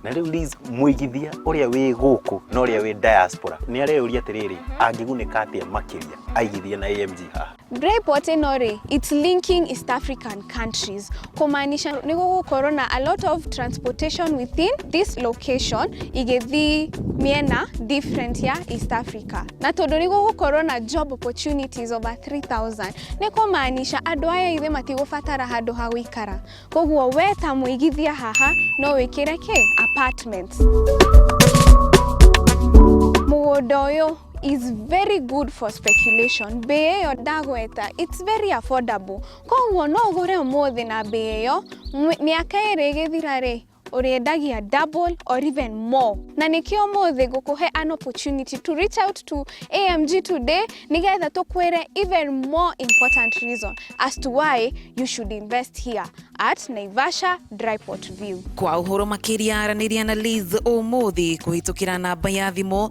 na rĩu Liz mũigithia ũrĩa wĩ gũkũ na ũrĩa wĩ diaspora nĩ areyũria atĩrĩrĩ angĩgunĩka atĩa makĩria aigithia na AMG haha Braiport ĩno rĩ, it's linking East African countries. Kũmaanisha nĩ gũgũkorwo na a lot of transportation within this location igĩthiĩ mĩena different ya East Africa. Na tondũ nĩ gũgũkorwo na job opportunities over 3000 nĩ kũmaanisha andũ aya ithe matigũbatara handũ ha gũikara. Koguo we ta mũigithia haha no wĩkĩre kĩ? Apartment. Mũgũnda ũyũ is very good for speculation. Mbĩ ĩyo ndagweta, it's very affordable. Koguo no ũgũre ũmũthĩ na mbei ĩyo, mĩ- mĩaka ĩrĩ ĩgĩthira-rĩ, ũrĩendagia double or even more. Na nĩkĩo ũmũthĩ ngũkũhe an opportunity to reach out to AMG today nĩgetha tũkwĩre even more important reason as to why you should invest here at Naivasha Dryport View. Kwa ũhoro makĩria aranĩria na Liz ũmũthĩ kũhĩtũkĩra namba ya thimũ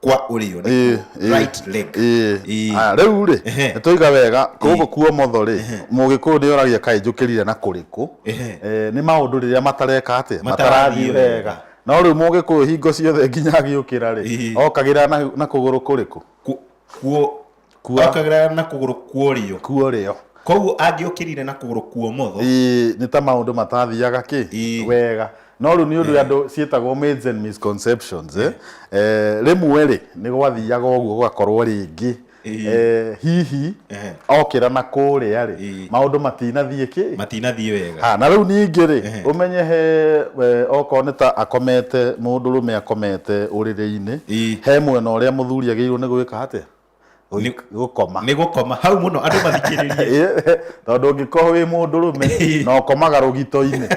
kwa ũrĩo Ĩĩ, nĩkuo ĩĩ, right leg ĩĩ. Ĩĩ. Aya, rĩu rĩ Ehe. nĩtwaiga wega gũkũ kuo motho rĩ mũgĩkũyũ nĩ oragia kaĩ njũkĩrire na kũrĩkũ Ehe. Eh, nĩ maũndũ rĩrĩa matareka atĩ Matarathiĩ matarathiĩ wega. wega no rĩu mũgĩkũyũ hingo ciothe nginya agĩũkĩra rĩ Ĩĩ. okagĩra na na kũgũrũ kũrĩkũ Ku- kuo Kua- okagĩra na kũgũrũ kuorĩo kuorĩo koguo angĩũkĩrire na kũgũrũ kuomotho Ĩĩ, nĩ ta maũndũ matathiaga kĩ Ĩĩ. wega no rĩu nĩ ũndũ andũ ciĩtagwo myths and misconceptions eh, eh, rĩmwe rĩ nĩ gwathiaga ũguo gũgakorwo rĩngĩ Ĩĩ. eh, hihi Ehe. okĩra na kũrĩa rĩ Ĩĩ. maũndũ matinathiĩ kĩ matinathiĩ wega Ha, na rĩu ningĩ rĩ Ehe. ũmenye he eh, okorwo nĩ ta akomete mũndũ rũme akomete ũrĩrĩ-inĩ Ĩĩ. he mwena ũrĩa mũthuri agĩrĩirwo nĩ gwĩka atĩa Nĩ- gũkoma nĩ gũkoma hau mũno andũ mathikĩrĩrie Ĩ, tondũ ũngĩkorwo wĩ mũndũ rũme na ũkomaga rũgito-inĩ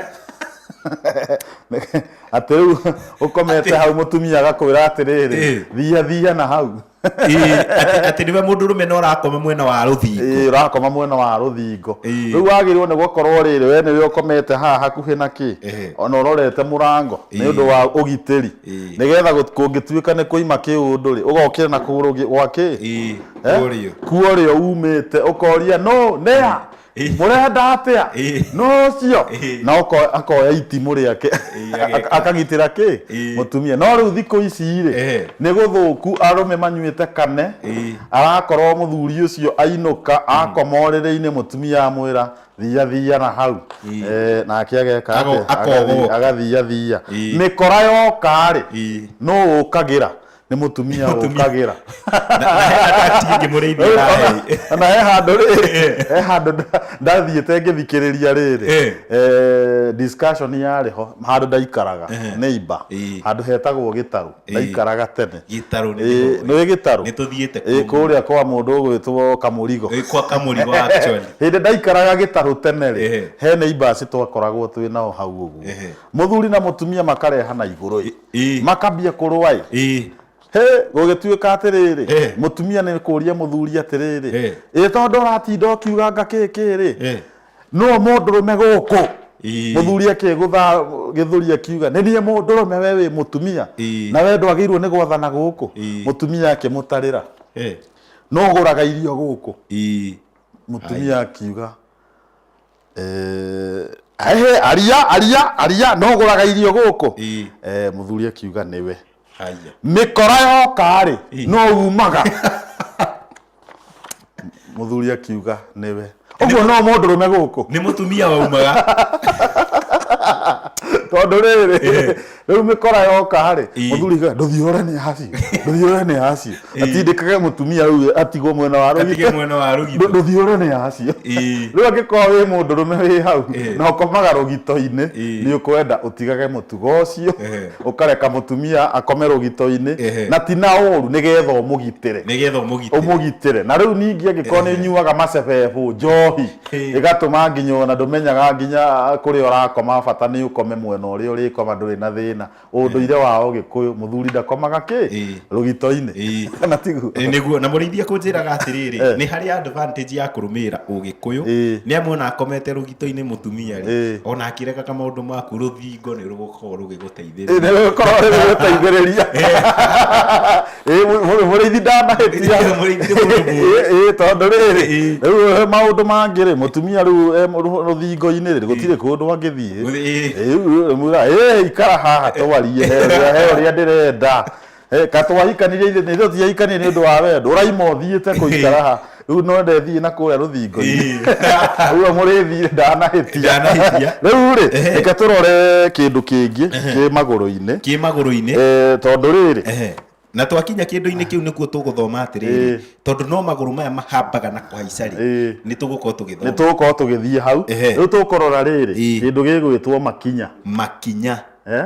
atĩ rĩu ũkomete hau mũtumia agakwĩra atĩrĩrĩ Ĩ. thiha thiha na hau Ĩ, atĩ- atĩ nĩwe mũndũ rũme na ũrakoma mwena wa rũthingo Ĩ, ũrakoma mwena wa rũthingo Ĩ. rĩu wagĩrĩirwo nĩ gũkorwo rĩrĩ we nĩwe ũkomete haha hakuhĩ na kĩ Ĩ. ona ũrorete mũrango nĩ Ĩ. ũndũ wa ũgitĩri Ĩĩ. nĩgetha gũt- kũngĩtuĩka nĩ kũima kĩũndũ rĩ ũgokĩra na kũgũrũ gĩ- gwa kĩ Ĩĩ, Eh? kũrĩo. kuorĩo umĩte ũkoria no nĩa Ĩĩ. mũrenda atĩa Ĩĩ. no ũcio Ĩĩ. na ũko- akoya itimũ rĩake Ĩĩ, ageka. Ak- akagitĩra kĩ Ĩĩ. mũtumia no rĩu thikũ ici rĩ Ehe. nĩ gũthũku arũme manyuĩte kane Ĩĩ. arakorwo mũthuri ũcio ainũka akoma ũrĩrĩ-inĩ mũtumia amwĩra thiya thiya na hau Ii. eh, nake ageka Ago- atĩa? akogogoka. Agathi- agathiya thiya Ii. mĩkora yoka-rĩ Ii. nũ ũkagĩra nĩ mũtumia Mũtumia. ũkagĩra tingĩmũrĩithia naĩ na he handå rä he handå ndathiä te ngä thikä rä ria rä Eh. rä discussion yarä ho handå ndaikaraga neighbor Ii. handå hetagwo gä tarå ndaikaraga tene gĩtarũ nĩ Ĩĩ, nĩ gĩtarũ nĩ tũthiĩte Ĩĩ, kũrĩa kwa mũndũ ũgwĩtwo kamũrigo Ĩĩ, kwa kamũrigo actually hĩndĩ ndaikaraga gĩtarũ tene Ehe. rĩ he nĩ ibasi twakoragwo twĩ nao hau ũguo Ehe. mũthuri na mũtumia makarehana igũrũ ĩ Ĩĩ. makambia kũrũa ĩ Ĩĩ. he gũgĩtuĩka atĩrĩrĩ Eh. mũtumia nĩ kũria mũthuri atĩrĩrĩ Eh. ĩ tondũ ũratinda ũkiuga ngakĩkĩrĩ Eh. nũũ mũndũrũme gũkũ Ii. mũthuri akĩgũtha gĩthũri akiuga nĩ niĩ mũndũrũme we wĩ mũtumia Ii. na we ndwagĩirwo nĩ gwathana gũkũ Ii. mũtumia akĩmũtarĩra Eh. nũũ ũgũraga irio gũkũ Ii. mũtumia akiuga "Eh, ehe aria aria aria nũũ ũgũraga irio gũkũ Ii. Eh, mũthuri akiuga nĩwe Haya. mĩkora yoka-rĩ Ĩ. no umaga mũthuri akiuga nĩwe ũguo no mũndũrũme gũkũ nĩ mũtumia waumaga tondũ rĩrĩ rĩu mĩkora yoka-rĩ Ĩ. mũthuri akiuga ndũthiũre nĩ aciĩ ndũthiũre nĩ aciĩ atindĩkage mũtumia rĩu atigwo mwena wa rũgitho atige mwena wa rũgitho ndũthiũre nĩ acio Ĩĩ. rĩu angĩkorwo wĩ mũndũ rũme wĩ hau Ĩĩ. na ũkomaga rũgito-inĩ Ĩĩ. nĩ ũkwenda ũtigage mũtugo ũcio Ehe. ũkareka mũtumia akome rũgito-inĩ Ehe. na ti na ũru nĩgetha ũmũgitĩre nĩgetha ũmũgitĩre ũmũgitĩre na rĩu ningĩ angĩkorwo nĩ Ehe. nyuaga macebebũ njohi Ĩĩ. ĩgatũma nginya ona ndũmenyaga nginya kũrĩa ũrakoma bata nĩ ũkome mwena ũrĩa ũrĩkoma ndũrĩ na thĩna ũndũire wao gĩkũyũ mũthuri ndakomaga kĩ Ĩĩ. rũgitoinĩ Ĩĩ. kana tiguo Ĩ, nĩguo na mũrĩithia kũnjĩraga atĩrĩrĩ Eh. nĩ harĩ advantage ya kũrũmĩrĩra ũgĩkũyũ Ĩĩ. nĩ amu ona akomete rũgito-inĩ mũtumia rĩ Ĩĩ. ona akĩregaga maũndũ maku rũthingo nĩ rũgũkorwo rũgĩgũteithĩrĩria nĩgũkorwo rĩgũteithĩrĩria Ĩ, mũ- mũ- mũrĩithi ndanahĩtia Nĩ mũrĩithi nĩ mũndũ mũũgĩ. Ĩ, ĩ, tondũ rĩrĩ Ĩ. rĩu he maũndũ mangĩ rĩ mũtumia rĩu e mũ- rũ- rũthingo-inĩ rĩ gũtirĩ kũndũ angĩthiĩ Ĩ. Ĩ, mwĩra ĩ ikara haha twarie he ũrĩa- he ũrĩa ndĩrenda Ĩ, ka twahikanirie ithe- nĩ ithuĩ tiahikanirie nĩ ũndũ wa wendo ũraima ũthiĩte kũikara haha rĩu no ndethiĩ na kũrĩa rũthingo-inĩ uga mũrĩthiĩ ndanahĩtia Ndanahĩtia. rĩu rĩ Ehe. reke tũrore kĩndũ kĩngĩ kĩ magũrũ-inĩ kä magå-rå-inä Eh, tondũ rĩrĩ Ehe. na twakinya kä ndå-inä kä u nä kuo tå gå thoma atä rä Ĩĩ. tondå no magå rå maya mahambaga na kå haica rä Ĩĩ. nä tå gå korwo tå gä nä thoma tũgũkorwo tũgĩthiĩ hau Ehe. rĩu tũkũrora rĩrĩ Ĩĩ. kĩndũ gĩgwĩtwo makinya makinya Eh?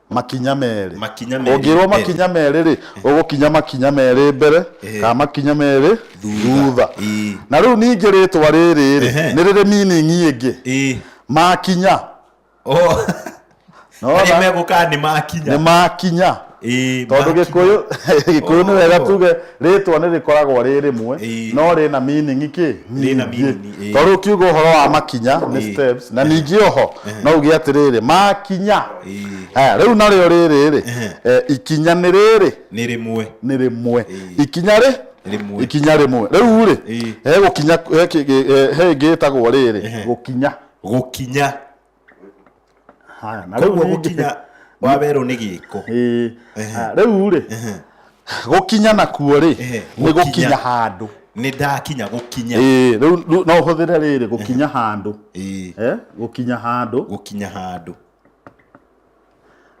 makinya merĩ Makinya merĩ ũngĩrwo mbere. makinya merĩ rĩ ũgũkinya makinya merĩ mbere Ehe. kana makinya merĩ Thutha. thutha Ĩĩ. na rĩu ningĩ rĩtwa rĩrĩ rĩ Ehe. nĩ rĩrĩ meaning ĩngĩ ĩĩ makinya o Nona? arĩa megũkaa nĩ makinya nĩ makinya Ĩĩ, tondũ makinya. gĩkũyũ gĩkũyũ nĩ wega Oh. tuge rĩtwa nĩ rĩkoragwo rĩ rĩmwe Ĩĩ. no rĩna meaning kĩ Rĩna nyingĩ. meaning, ĩĩ. tondũ ũkiuga ũhoro wa makinya nĩ Ĩĩ. steps na ningĩ oho no uge atĩrĩrĩ makinya Aya, rĩu narĩo rĩrĩ rĩ eh, ikinya nĩ rĩrĩ nĩ rĩmwe nĩ rĩmwe ikinya rĩ Rĩmwe. ikinya rĩmwe rĩu rĩ Ĩĩ. he gũkinya he kĩ- gĩ- eh, he ĩngĩ ĩtagwo rĩrĩ gũkinya gũkinya Haya, na rĩu koguo ningĩ- gũkinya wa werũ nĩ gĩko Ĩĩ. Haya, rĩu rĩ gũkinya nakuo rĩ Ehe, nĩ gũkinya. gũkinya handũ nĩ ndakinya gũkinya Ĩĩ, rĩu rĩu no ũhũthĩre rĩrĩ gũkinya handũ Ĩĩ, Eh, gũkinya handũ gũkinya handũ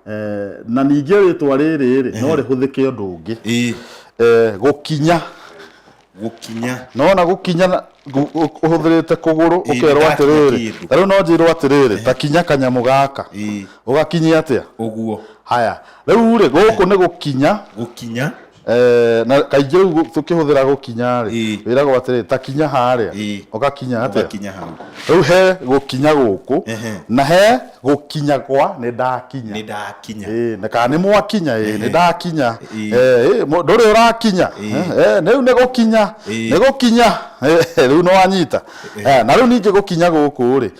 Eh, na ningĩ rĩtwa rĩrĩ rĩ no rĩhũthĩke ũndũ ũngĩ ĩĩ Eh, gũkinya gũkinya nona gũkinya na- gu- gu- ũhũthĩrĩte kũgũrũ Ĩĩ, ũkerwo nĩndakinya atĩrĩrĩ kĩndũ. tarĩu no njĩrwo atĩrĩrĩ ta kinya kanyamũ gaka Ĩĩ. ũgakinyia atĩa ũguo haya rĩu rĩ gũkũ nĩ gũkinya gũkinya Eh, na kaingĩ rĩu gũ- tũkĩhũthĩra gũkinya rĩ Ĩĩ. wĩragwo atĩrĩ ta kinya harĩa Ĩĩ. ũgakinya atĩa Ũgakinya hau. rĩu he gũkinya gũkũ Ehe. na he gũkinya gwa nĩ ndakinya Nĩ ndakinya. Ĩĩ, na kana nĩ mwakinya ĩĩ, nĩ ndakinya Ĩĩ. Eh, ĩĩ, mũ- ndũrĩ ũrakinya Ĩĩ. Eh, rĩu nĩ gũkinya Ĩĩ. nĩ gũkinya Eh, rĩu nĩ wanyita Eh, na rĩu ningĩ gũkinya gũkũ rĩ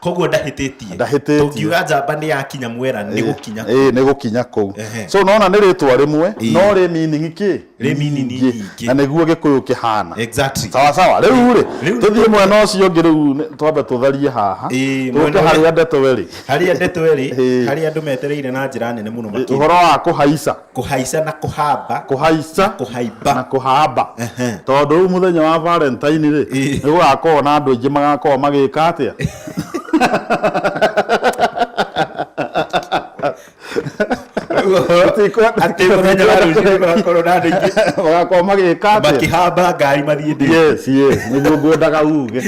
koguo ndahĩtĩtie Ndahĩtĩtie. tũngiuga njamba nĩ yakinya mwera nĩ gũkinya ĩĩ nĩ gũkinya kũu Ehe. so unaona nĩ rĩtwa rĩmwe Ĩĩ. no rĩ meaning kĩ Rĩ meaning nyingĩ. na nĩguo gĩkũyũ kĩhana exactly sawa sawa rä u rä Rĩu tå thiä nĩ- mwena å cio ngä rä u nĩ- twambe tå tharie haha Ĩĩ, tå mwena ke harä ũrĩa- a ndeto werä harä a ndeto erä Ĩĩ. harä a andå metereire na njä ra nene må no å horo wa kå haica kũhaica na kũhamba kũhaica na kũhaimba kũhamba tondũ rĩu mũthenya wa valentine rĩ nĩ gũgakorwo na andũ aingĩ magakorwo magĩka atĩa magakorwo magĩka atĩa makĩhamba ngari mathiĩ ndĩ yes yes nĩguo ngwendaga uge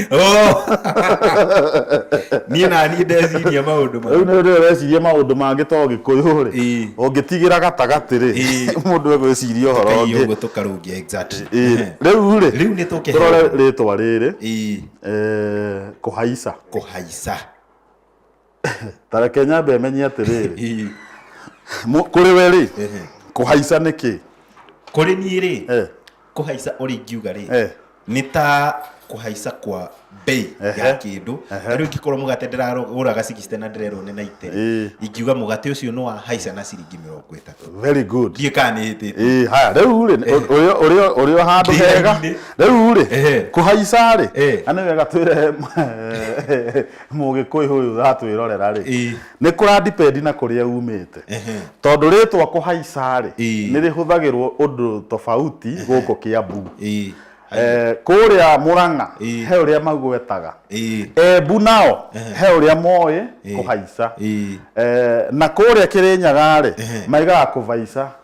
niĩ na niĩ ndeciria maũndũ rĩu nĩ rĩo ũreciria maũndũ mangĩ to gĩkũyũ rĩ ũngĩtigĩra gatagatĩ rĩ mũndũ egwĩciria ũhoro Tũkaiya ũngĩ ũguo tũkarũngia exactly. Ĩĩ, Ehe. rĩu rĩ Rĩu nĩ tũkĩheo. tũrore rĩtwa rĩrĩ Ĩĩ, eh, kũhaica kũhaica ta reke nyambe menye atĩrĩrĩ Ĩĩ, Mũ- kũrĩ we rĩ ehe. kũhaica nĩ kĩ kũrĩ niĩ rĩ Eh. kũhaica ũrĩa ingiuga rĩ Eh. nĩ ta kũhaica kwa bei Ehe. ya kĩndũ Ehe. rĩu ingĩkorwo mũgate ndĩragũraga 60 na ndĩrerwo nĩ 90 Eh. ingiuga mũgate ũcio nĩ wahaica na ciringi mĩrongo ĩtatũ very good ndiĩ kana nĩ hĩtĩte Eh, haya rĩu rĩ ũrĩ- ũrĩ- ũrĩ o handũ Ndĩ hega raini-inĩ. rĩu rĩ Ehe. kũhaica rĩ Eh. na nĩ wega twĩre mũgĩkũyũ ũyũ ratwĩrorera rĩ Eh. Nĩ kũra depend na kũrĩa uumĩte. Tondũ rĩtwa kũhaica-rĩ, Ĩĩ. nĩ rĩhũthagĩrwo ũndũ tofauti gũkũ Kĩambu. Ĩĩ. Eh, Kũrĩa Mũrang'a Ĩĩ. he ũrĩa magwetaga. Ĩĩ. Embu nao he ũrĩa moĩ Ĩĩ. kũhaica. Ĩĩ. Eh, Na kũrĩa Kĩrĩnyaga-rĩ, Ĩĩ. maigaga kũvaica.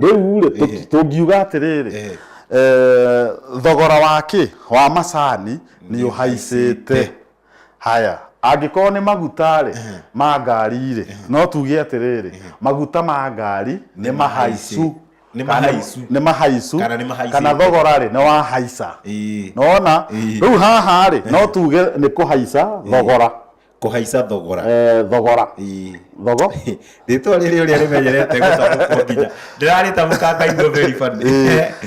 rĩu rĩ tũ- tũngiuga atĩrĩrĩ Eh. eh, thogora wa kĩ wa macani nĩ ũhaicĩte haya angĩkorwo nĩ maguta rĩ ma ngari rĩ no tuge atĩrĩrĩ maguta ma ngari nĩ mahaicu Nĩ Kana mahaicu. nĩ mahaicu Kana nĩ mahaicĩte. kana thogora rĩ nĩ wahaica Ĩĩ. nona Ĩĩ. rĩu haha rĩ no tuge nĩ kũhaica thogora kũhaica thogora eh, thogora Ii. thogo rĩtwa rĩrĩ ũrĩa rĩmenyerete gũtamũkwo nginya ndĩrarĩtamũka ndaigua very funny.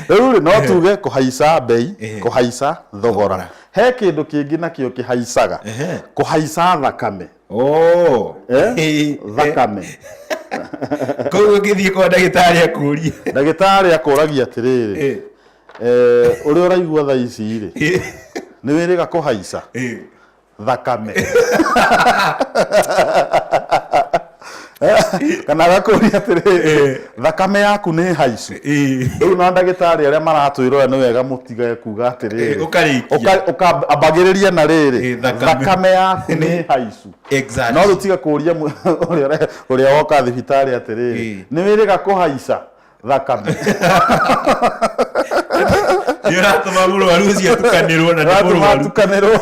rĩu rĩ no tuge kũhaica mbei Ehe. kũhaica thogora Thogora. he kĩndũ kĩngĩ nakĩo kĩhaicaga Ehe. kũhaica thakame Oh. Eh? thakame koguo ngĩthiĩ kwa ndagĩtarĩ akũrie ndagĩtarĩ akũragia atĩrĩrĩ Eh, eh, ũrĩa ũraigua thaa ici rĩ nĩ wĩrĩga kũhaica eh. thakame kana agakũria atĩrĩ thakame yaku nĩ haicu rĩu na ndagĩtarĩ arĩa maratwĩrora nĩ wega mũtige kuga atĩrĩ ũkambagĩrĩria na rĩrĩ thakame yaku nĩ haicu no rĩu tiga kũria ũrĩa woka thibitarĩ atĩrĩ nĩ wĩrĩga kũhaica thaka nĩ ũratũma mũrwaru ũcio atukanĩrwo na nĩ ratuma mũrwaru atukanĩrwo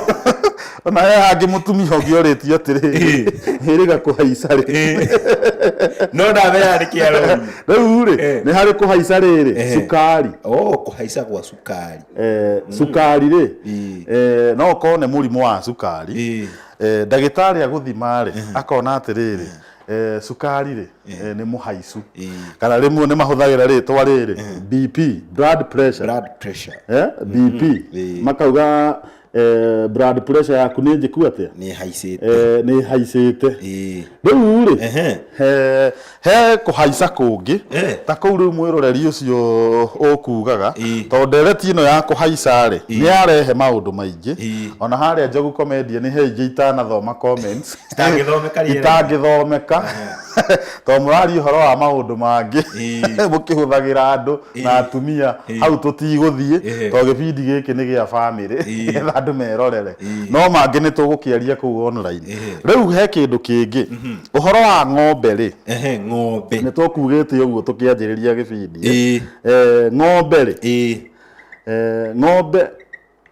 ona he hangĩ mũtumia ũngĩ orĩtio atĩrĩ Ĩĩ. hĩrĩga kũhaica rĩ Ĩĩ. no ndawa ĩyo nĩ kĩarori rĩu rĩ Eh. nĩ harĩ kũhaica rĩrĩ Eh. cukari o kũhaica gwa cukari Eh, cukari rĩ Ĩĩ. eh, no ũkorwo nĩ mũrimũ wa cukari Ĩĩ. Eh, ndagĩtarĩ agũthima rĩ akona atĩrĩrĩ eh, cukari rĩ eh, nĩ mũhaicu Eh. kana rĩmwe nĩ mahũthagĩra rĩtwa rĩrĩ bp blood pressure blood pressure eh, bp Eh. makauga eh, blood pressure yaku nĩ njĩku atĩa nĩ haicĩte eh, nĩ haicĩte Eh. rĩu rĩ Ehe. he- he kũhaica kũngĩ Eh. ta kũu rĩu mwĩroreri ũcio ũkugaga Ĩ. tondũ ndereti ĩno ya kũhaica rĩ nĩ yarehe maũndũ maingĩ Ĩ. ona harĩa njogu komendia nĩ he ingĩ itanathoma comments Itangĩthomeka rĩera. itangĩthomeka tondũ mũraria ũhoro wa maũndũ mangĩ Ĩĩ. mũkĩhũthagĩra andũ na Ĩĩ. atumia Ĩĩ. hau tũtigũthiĩ Ĩĩ. tondũ gĩbindi gĩkĩ nĩ gĩa bamĩrĩ Ĩĩ. nĩgetha andũ merorere Ĩĩ. no mangĩ nĩ tũgũkĩaria kũu online Ĩĩ. rĩu he kĩndũ kĩngĩ ũhoro wa ng'ombe rĩ Ehe, ng'ombe nĩ tũkugĩte ũguo tũkĩanjĩrĩria gĩbindi Ĩĩ. Eh, ng'ombe rĩ Ĩĩ. Eh, ng'ombe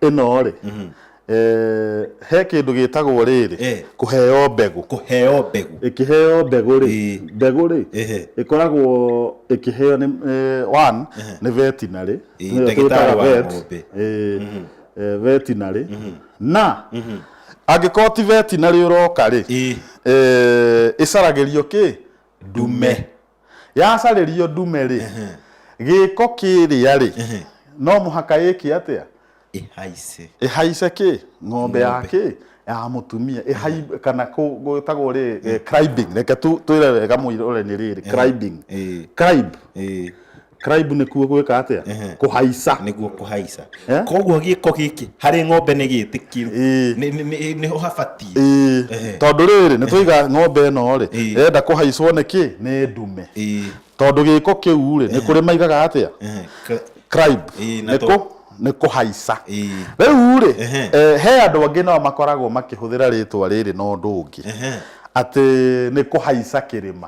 ĩno rĩ mhm. eh, he kĩndũ gĩtagwo rĩrĩ eh. kũheo mbegũ kũheo mbegũ ĩkĩheo mbegũ rĩ eh. mbegũ rĩ ĩkoragwo ĩkĩheo nĩ one nĩ veterinary ndagĩtarĩ wa ng'ombe mhm. veterinary mhm. na angĩkorwo ti veterinary ũroka rĩ ĩcaragĩrio kĩ ndume yacarĩrio ndume rĩ gĩko kĩrĩa rĩ no mũhaka ĩke atĩa ĩhaice ĩhaice kĩ ng'ombe ya Ng'ombe. kĩ ya mũtumia ĩhai kana kũ- gwĩtagwo rĩ eh, cribing reke tu- twĩre wega mũirore nĩ rĩrĩ cribing ĩĩ crib ĩĩ Cribe nĩ kuo gwĩka atĩa Ehe. kũhaica nĩguo kũhaica Eh? koguo gĩko gĩkĩ harĩ ng'ombe nĩ gĩtĩkĩru Ĩĩ. Nĩ- nĩ- nĩ- nĩho habatiĩ Ĩĩ. Ehe. tondũ rĩrĩ nĩ tũiga ng'ombe ĩno rĩ Ĩĩ. ĩrenda kũhaicwo nĩ kĩ nĩ ndume Ĩĩ. tondũ gĩko kĩu rĩ nĩ kũrĩ maigaga atĩa Ehe. Ka- Cribe Ĩĩ, na nĩ to- kũ- nĩ kũhaica Ĩĩ. rĩu rĩ Ehe. eh, he andũ angĩ nao makoragwo makĩhũthĩra rĩtwa rĩrĩ na ũndũ ũngĩ Ehe. atĩ nĩ kũhaica kĩrĩma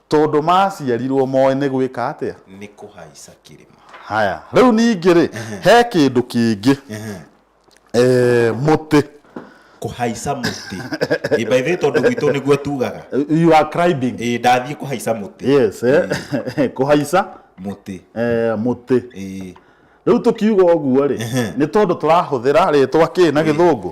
Tondũ maaciarirwo moĩ nĩ gwĩka atĩa? Nĩ kũhaica kĩrĩma. Haya, rĩu ningĩ-rĩ, he kĩndũ kĩngĩ, eh, mũtĩ. Kũhaica mũtĩ. Ĩ, by the way, tondũ gwitũ nĩguo tugaga. You are climbing. Ĩ, ndathiĩ kũhaica mũtĩ. Yes, eh, kũhaica Mũtĩ. eh, mũtĩ. Ĩ. Rĩu tũkiuga ũguo-rĩ, nĩ tondũ tũrahũthĩra rĩtwa kĩ na gĩthũngũ?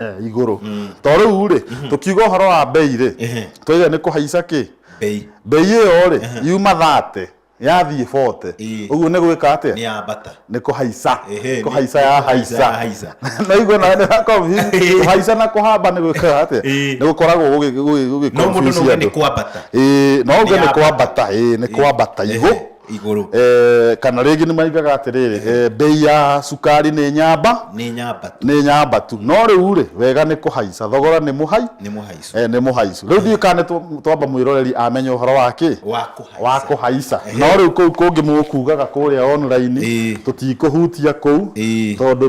eh, igũrũ to rĩu rĩ tũkiuga ũhoro wa mbei rĩ Ehe. twaigana nĩ kũhaica kĩ bei mbei ĩyo rĩ yuma thate yathiĩ bote Ĩĩ. ũguo nĩ gwĩka atĩa nĩ yambata nĩ kũhaica Ehe, nĩ- kũhaica nĩ ya kũhaica ya haica haica. naigua na nĩ na confuse. Ĩĩ. kũhaica na kũhamba nĩ gwĩkaga atĩa Ĩĩ. nĩ gũkoragwo gũgĩ- gũgĩ- gũgĩ- no mũndũ confuse no ũge andũ. nĩ kwambata Ĩĩ, no uge Nĩ nĩ yambata. kwambata ĩĩ, nĩ Ĩĩ. kwambata Ehe. igũ igũrũ Eh, kana rĩngĩ nĩ maigaga atĩrĩrĩ eh, mbei ya cukari nĩ nyamba nĩ nyamba tu nĩ nyamba tu no rĩu rĩ wega nĩ kũhaica thogora nĩ mũhai nĩ mũhaicu eh, nĩ mũhaicu rĩu ndiũ kana nĩ twamba mwĩroreri amenya ũhoro wa kĩ wa kũhaica wa kũhaica no rĩu kũu kũngĩ mũkugaga kũrĩa online Ĩĩ. tũtikũhutia kũu Ĩĩ. tondũ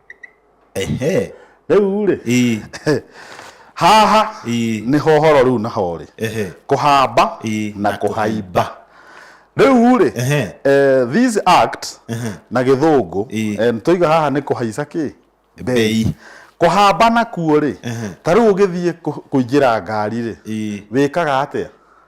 ehe rĩu rĩ ii haha Ii. nĩ hohoro rĩu na horĩ ehe kũhamba Ii, na na kũhaimba rĩu rĩ Ehe. eh, this act na gĩthũngũ Ii. eh, tũiga haha nĩ kũhaica kĩ Mbei. kũhamba nakuo rĩ ta rĩu ũgĩthiĩ kũ- kũingĩra ngari rĩ Ii. wĩkaga atĩa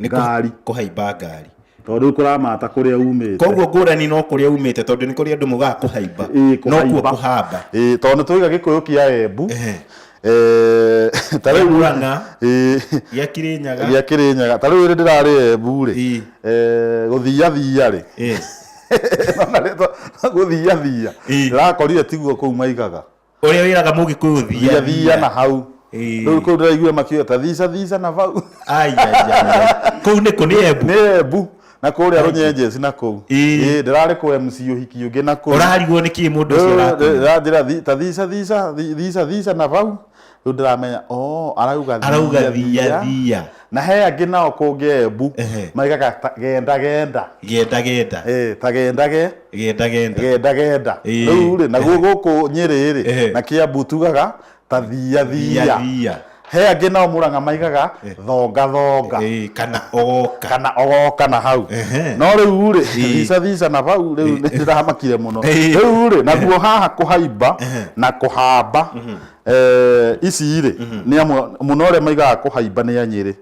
Nĩ kũ- ngari kũhaimba ngari tondũ rĩu kũramata kũrĩa umĩte koguo ngũrani no kũrĩa umĩte tondũ nĩ kũrĩa andũ mugaga kũhaimba Ĩĩ, no kuo kũhaimba. kũhamba Ĩĩ, tondũ nĩ tũiga gĩkũyũ kĩa embu Ehe. Eh, ta Gĩa rĩu- Murang'a. Ĩĩ, gĩa kĩrĩnyaga gĩa kĩrĩnyaga ta rĩu rĩ ndĩrarĩ embu rĩ Ĩĩ. eh, gũthiathia rĩ Ĩĩ. gũthiathia Ĩĩ. ndĩrakorire tiguo kũu maigaga Ũrĩa wĩraga mũgĩkũyũ thia thia na hau Ĩĩ. rĩu kũu ndĩraiguire makiuga ta thica thica na vau Ai, ai, ai. Kũu nĩkũ nĩ embu. nĩ embu na kũrĩa rũnyenjeci na kũu Ĩĩ. Ĩĩ, ndĩrarĩ kũ mc ũhiki ũngĩ na kũu Ũrarigwo nĩ kĩĩ mũndũ ũcio arakuga. ranjĩra ta thica thica thi- thica thica na vau rĩu ndĩramenya o arauga Arauga thia thia. na he angĩ nao kũngĩ embu Ehe. maigaga ta- genda genda genda genda Eh, ta genda ge genda genda genda genda Ĩĩ. rĩu rĩ naguo gũkũ nyĩrĩ Ehe. rĩ na kĩambu tugaga ta thia thia thia thia he angĩ nao mũranga maigaga thonga thonga Ĩĩ, kana ogoka kana ogoka na hau Ehe. no rĩu rĩ Ĩĩ. thica thica na hau rĩu nĩndĩramakire mũno Ĩĩ. rĩu rĩ naguo haha kũhaimba na kũhamba Eh, ici rĩ nĩ amwe mũno arĩa maigaga kũhaimba nĩ anyĩrĩ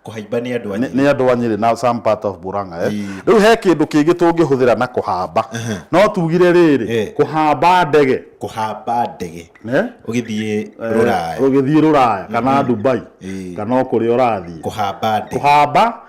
kũhaimba nĩ andũ anyu nĩ andũ anyĩrĩ na some part of Murang'a eh. Ii. rĩu he kĩndũ kĩngĩ tũngĩhũthĩra na kũhamba no tugire rĩrĩ Eh. kũhamba ndege kũhamba ndege eh, ũgĩthiĩ rũraya ũgĩthiĩ rũraya kana Dubai Ii. kana o kũrĩa ũrathiĩ kũhamba ndege kũhamba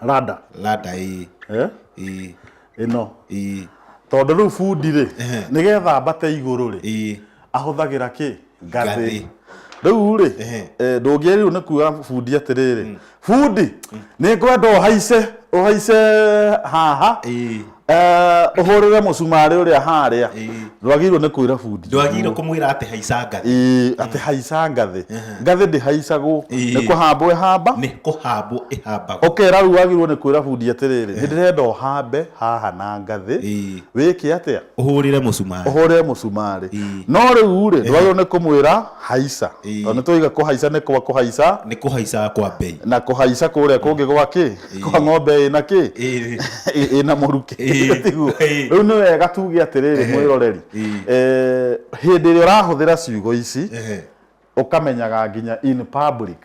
rada rada ĩĩ eh? ĩĩ ĩno ĩĩ tondũ rĩu bundi rĩ Ehe. nĩgetha mbate igũrũ rĩ ĩĩ ahũthagĩra kĩ Ngathĩ. ngathĩ rĩu rĩ Ehe. eh, ndũngĩe rĩu nĩ kuga bundi atĩrĩrĩ bundi nĩ ngwenda ũhaice ũhaice haha ĩĩ Eh, ũhũrĩre mũcumarĩ ũrĩa harĩa Ĩĩ. ndwagĩrĩirwo nĩ kwĩra bundi ndwagĩrĩirwo kũmwĩra atĩ haica ngathĩ Ĩĩ, atĩ haica ngathĩ ngathĩ ndĩhaicagwo Ĩĩ. nĩ kũhambwo ĩhamba nĩ kũhambwo ĩhambagwo ũkera rĩu wagĩrĩirwo nĩ kwĩra bundi atĩrĩrĩ nĩ ndĩrenda ũhambe haha na ngathĩ Ĩĩ. wĩke atĩa ũhũrĩre mũcumarĩ ũhũre mũcumarĩ Ĩĩ. no rĩu rĩ ndwagĩrĩirwo nĩ kũmwĩra haica Ĩĩ. tondũ nĩ tũiga kũhaica nĩ kwa kũhaica nĩ kũhaica kwa mbei na kũhaica kũrĩa kũngĩ gwakĩ Ĩĩ. kwa ng'ombe ĩna kĩ Ĩĩ. Ĩ- ĩna mũrukĩ Ĩĩ. Tiguo? Ĩĩ. rĩu nĩ wega tuge atĩrĩrĩ Ehe. mwĩroreri Ĩĩ. Eh, hĩndĩ ĩrĩa ũrahũthĩra ciugo ici Ehe. ũkamenyaga nginya in public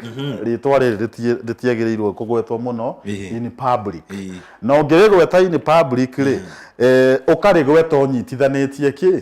rĩtwa rĩrĩ rĩti- rĩtiagĩrĩirwo kũgwetwo mũno Ĩĩ. in public Ĩĩ. na ũngĩrĩgweta in public rĩ eh, ũkarĩgweta ũnyitithanĩtie kĩ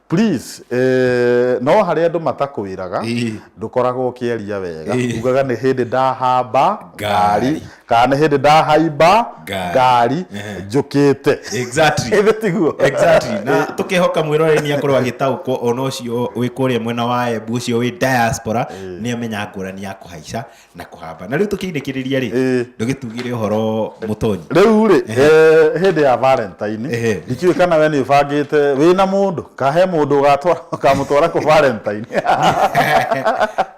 Please, eh, no harĩa andũ matakwĩraga Ĩĩ. ndũkoragwo ũkĩaria wega Ĩĩ. ugaga nĩ hĩndĩ ndahamba Ngari. ngari kana nĩ hĩndĩ ndahaimba Ngari. ngari Ehe. njũkĩte exactly ĩthĩ tiguo exactly na tukihoka mwiroreri ni akorwo agitaukwo ona ucio wi kuria mwena wa embu ucio wi diaspora ni amenya ngurani ya kuhaica na kũhamba na rĩu tũkĩinĩkĩrĩria rĩ Ĩĩ. ndũgĩtugire ũhoro mũtonyi rĩu rĩ eh, hĩndĩ ya valentine Ehe. ndikiũĩ kana we nĩ ũbangĩte wĩ na mũndũ kahe mũndũ ũgatwara ũkamũtwara kũ valentine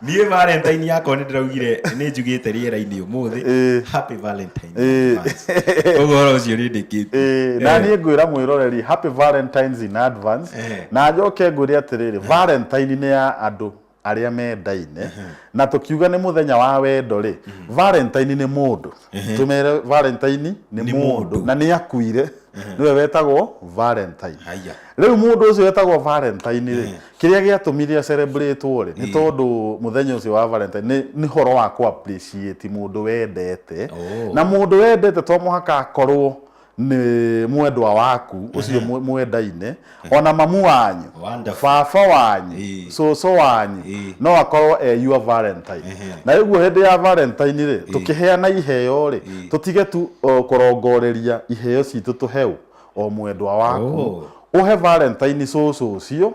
niĩ valentine yakwa nĩ ndĩraugire nĩ njugĩte rĩera-inĩ ũmũthĩ Ĩĩ. happy valentine Ĩĩ. advance. Ũguo ũhoro ũcio nĩ ndĩkĩte Ĩĩ, na niĩ ngwĩra mwĩroreri happy valentines in advance Eh. na njoke ngwĩre atĩrĩrĩ valentine nĩ ya andũ arĩa mendaine na tũkiuga nĩ mũthenya wa wendo rĩ valentine nĩ mũndũ tũmere valentine nĩ Nĩ mũndũ mũndũ. na nĩ akuire nĩwe wetagwo valentine haya rĩu mũndũ ũcio wetagwo valentine rĩ kĩrĩa gĩatũmire acerebratwo rĩ nĩ tondũ mũthenya ũcio wa valentine nĩ- nĩ horo wa kũ appreciate mũndũ wendete Oh. na mũndũ wendete to mũhaka akorwo nĩ mwendwa waku ũcio mwe- mwendaine ona mamu wanyu Wonderful. baba wanyu Ĩĩ. cũcũ wanyu Ĩĩ. no akorwo e your valentine Ehe. na rĩu hĩndĩ ya valentine rĩ tũkĩheana iheo rĩ tũtige tu o, kũrongoreria iheo citũ tũheu o mwendwa waku Oh. uhe valentine soso ucio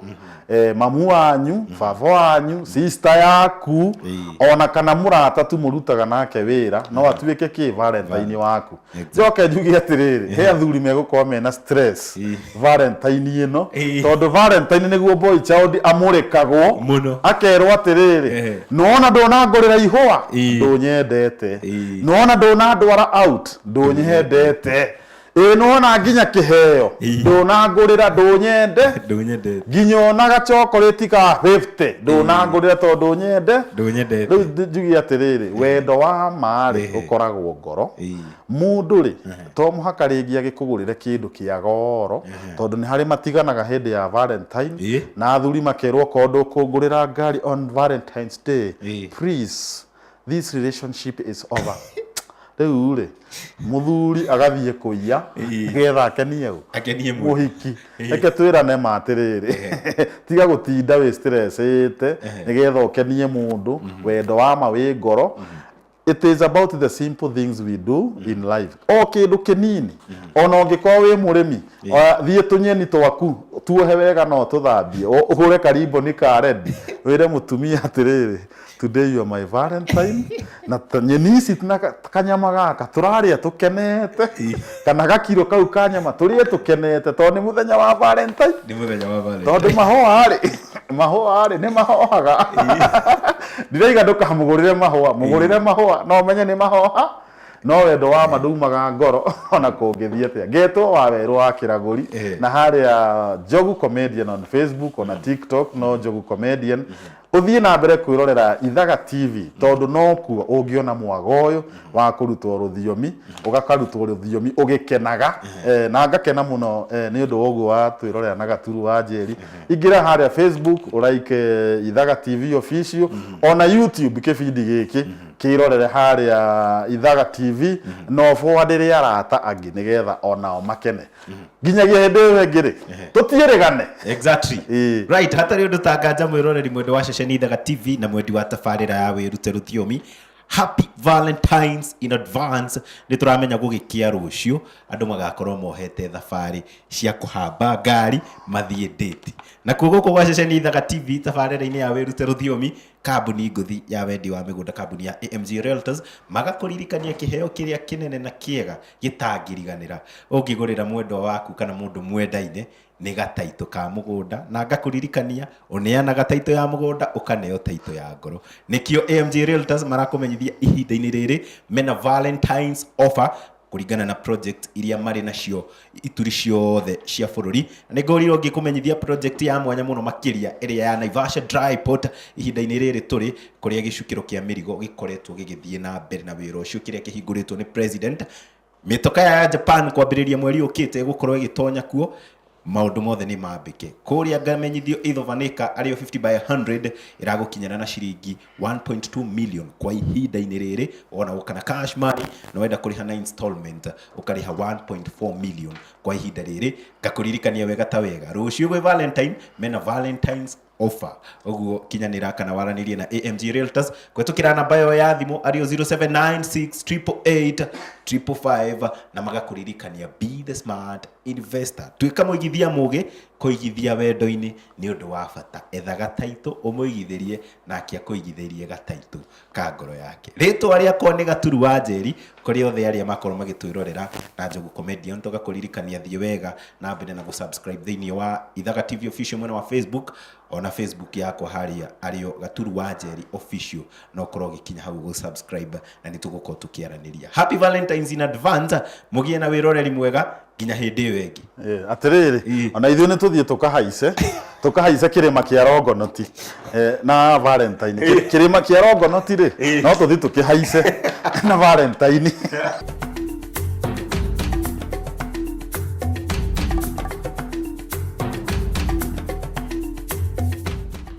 eh, mamu wanyu baba wanyu sister yaku Eh. ona kana murata tu murutaga nake wira no atuike ki valentine waku Exactly. njoke njuge atiriri he athuri megukorwo mena stress Eh. valentine ino Eh. tondu valentine niguo boy child amurikagwo Muno. akerwo atiriri Eh. nona ndonangorira ihua Eh. ndunyendete Eh. nona ndonandwara out ndunyihendete ĩ nona nginya kĩheo Ii. ndũnangũrĩra ndũnyende ndũnyendete nginya ona gacokorĩti ka 50 ndũnangũrĩra tondũ nyende rĩu ndũnyendete ndi- njuge atĩrĩrĩ wendo wa maarĩ Ehe. ũkoragwo ngoro Ii. mũndũ rĩ to mũhaka rĩngĩ agĩkũgũrĩre kĩndũ kĩa goro tondũ nĩ harĩ matiganaga hĩndĩ ya valentine Ĩ. na athuri makerwo korwo ndũkũngũrĩra ngari on valentines day Ĩ. please this relationship is over rĩu rĩ mũthuri agathiĩ kũiya Ĩĩ. getha akenie ũ akenie mũndũ mũhiki Ĩĩ. reke twĩrane ma atĩrĩrĩ tiga gũtinda wĩ stressĩte nĩgetha ũkenie mũndũ wendo wa ma wĩ ngoro it is about the simple things we do in life o kĩndũ kĩnini ona ũngĩkorwo wĩ mũrĩmi oya, thiĩ tũnyeni twaku tuohe wega no tũthambie ũ- ũhũre karimboni ka rendi wĩre mũtumia atĩrĩrĩ Today you are my valentine na ta- nyeni ici na ka- kanyama gaka tũrarĩa tũkenete kana gakiro kau ka nyama tũrĩe tũkenete tondũ nĩ mũthenya wa valentine nĩ mũthenya wa valentine tondũ mahũa rĩ mahũa rĩ nĩ mahohaga ndiraiga ndũkamũgũrĩre mahũa mũgũrĩre mahũa no menye nĩ mahoha no wendo wa ma ndũmaga ngoro ona kũngĩthiĩ atĩa ngetwo wa werũ wa kĩragũri Eh. na harĩa njogu comedian on facebook ona tiktok no njogu comedian Ũthiĩ na mbere kwĩrorera Ithaga TV tondũ nokuo ũngĩona mwago ũyũ wa kũrutwo rũthiomi, ũgakarutwo rũthiomi ũgĩkenaga eh, na ngakena mũno eh, nĩ ũndũ wa ũguo wa twĩrorera na gaturu wa njeri. Ingĩra harĩa Facebook ũraike eh, Ithaga TV official ona YouTube kĩbindi gĩkĩ kĩrorere harĩa Ithaga TV na ũbũadĩre arata angĩ nĩgetha onao makene. nginyagia hĩndĩ ĩyo ĩngĩ rĩ tũtiĩrĩgane exactly Ĩĩ. right hatarĩ ũndũ tanganja mwĩroreri mwendwa wa ceceni ithaga tv na mwendi wa tabarĩra ya wĩrute rũthiomi happy valentines in advance nĩ tũramenya gũgĩkia rũciũ andũ magakorwo mohete thabarĩ cia kũhamba ngari mathiĩ ndĩti na kuo gũkũ gwa ceceni ithaga tv tabarĩra-inĩ ya wĩrute rũthiomi kambuni ngũthi ya wendi wa mĩgũnda kambuni ya AMG Realtors magakũririkania kĩheo kĩrĩa kĩnene na kĩega gĩtangĩriganĩra ũngĩgũrĩra mwendwa waku kana mũndũ mwendaine nĩ gataitũ ka mũgũnda na ngakũririkania ũneanaga taitũ ya mũgũnda ũkaneo taitũ ya ngoro nĩkĩo AMG Realtors marakũmenyithia ihinda-inĩ rĩrĩ mena Valentine's offer kũringana na project iria marĩ nacio ituri ciothe cia bũrũri na nĩ ngorirwo ngĩkũmenyithia project ya mwanya mũno makĩria ĩrĩa ya Naivasha Dry Port ihinda-inĩ rĩrĩ tũrĩ kũrĩa gĩcukĩro kĩa mĩrigo gĩkoretwo gĩgĩthiĩ na mbere na wĩra ũcio kĩrĩa kĩhingũrĩtwo nĩ president mĩtoka ya Japan kwambĩrĩria mweri ũkĩte ĩgũkorwo ĩgĩtonya kuo Maũndũ mothe nĩ mambĩke. Kũrĩa ngamenyithio Ithova nĩ ka arĩ yo 50 by 100 ĩragũkinyĩra na ciringi 1.2 million kwa ihinda-inĩ rĩrĩ wonawo kana cash money na wenda kũrĩha na installment ũkarĩha 1.4 million kwa ihinda rĩrĩ ngakũririkania wega ta wega rũciũ gwĩ Valentine mena Valentine's offer ũguo kinyanĩra kana waranĩrie na amg realtors kũhetũkĩra namba ĩyo ya thimũ arĩo 07968855 na magakũririkania be the smart investor tuĩka mũigithia mũgĩ kũigithia wendo-inĩ nĩ ũndũ wa bata etha gataitũ ũmũigithĩrie nake akũigithĩrie gataitũ ka ngoro yake rĩtwa rĩakwa nĩ gaturu wa njeri kũrĩ othe arĩa makorwo magĩtwĩrorera na njogu comedian toga kũririkania thiĩ wega na mbere na gũsubscribe thĩinĩ wa ithaga tv official mwena wa facebook ona facebook yakwa harĩa arĩo gaturu wa njeri official no ũkorwo ũgĩkinya hau gũsubscribe na nĩ tũgũkorwo tũkĩaranĩria happy valentines in advance mũgĩe na wĩroreri mwega nginya hĩndĩ ĩyo ĩngĩ Eh, atĩrĩrĩ Ii. ona ithuĩ nĩ tũthiĩ tũkahaice tũkahaice kĩrĩma kĩa rongonoti eh, na valentine Kĩ- kĩrĩma kĩa rongonoti rĩ Ii. no tũthiĩ tũkĩhaice na valentine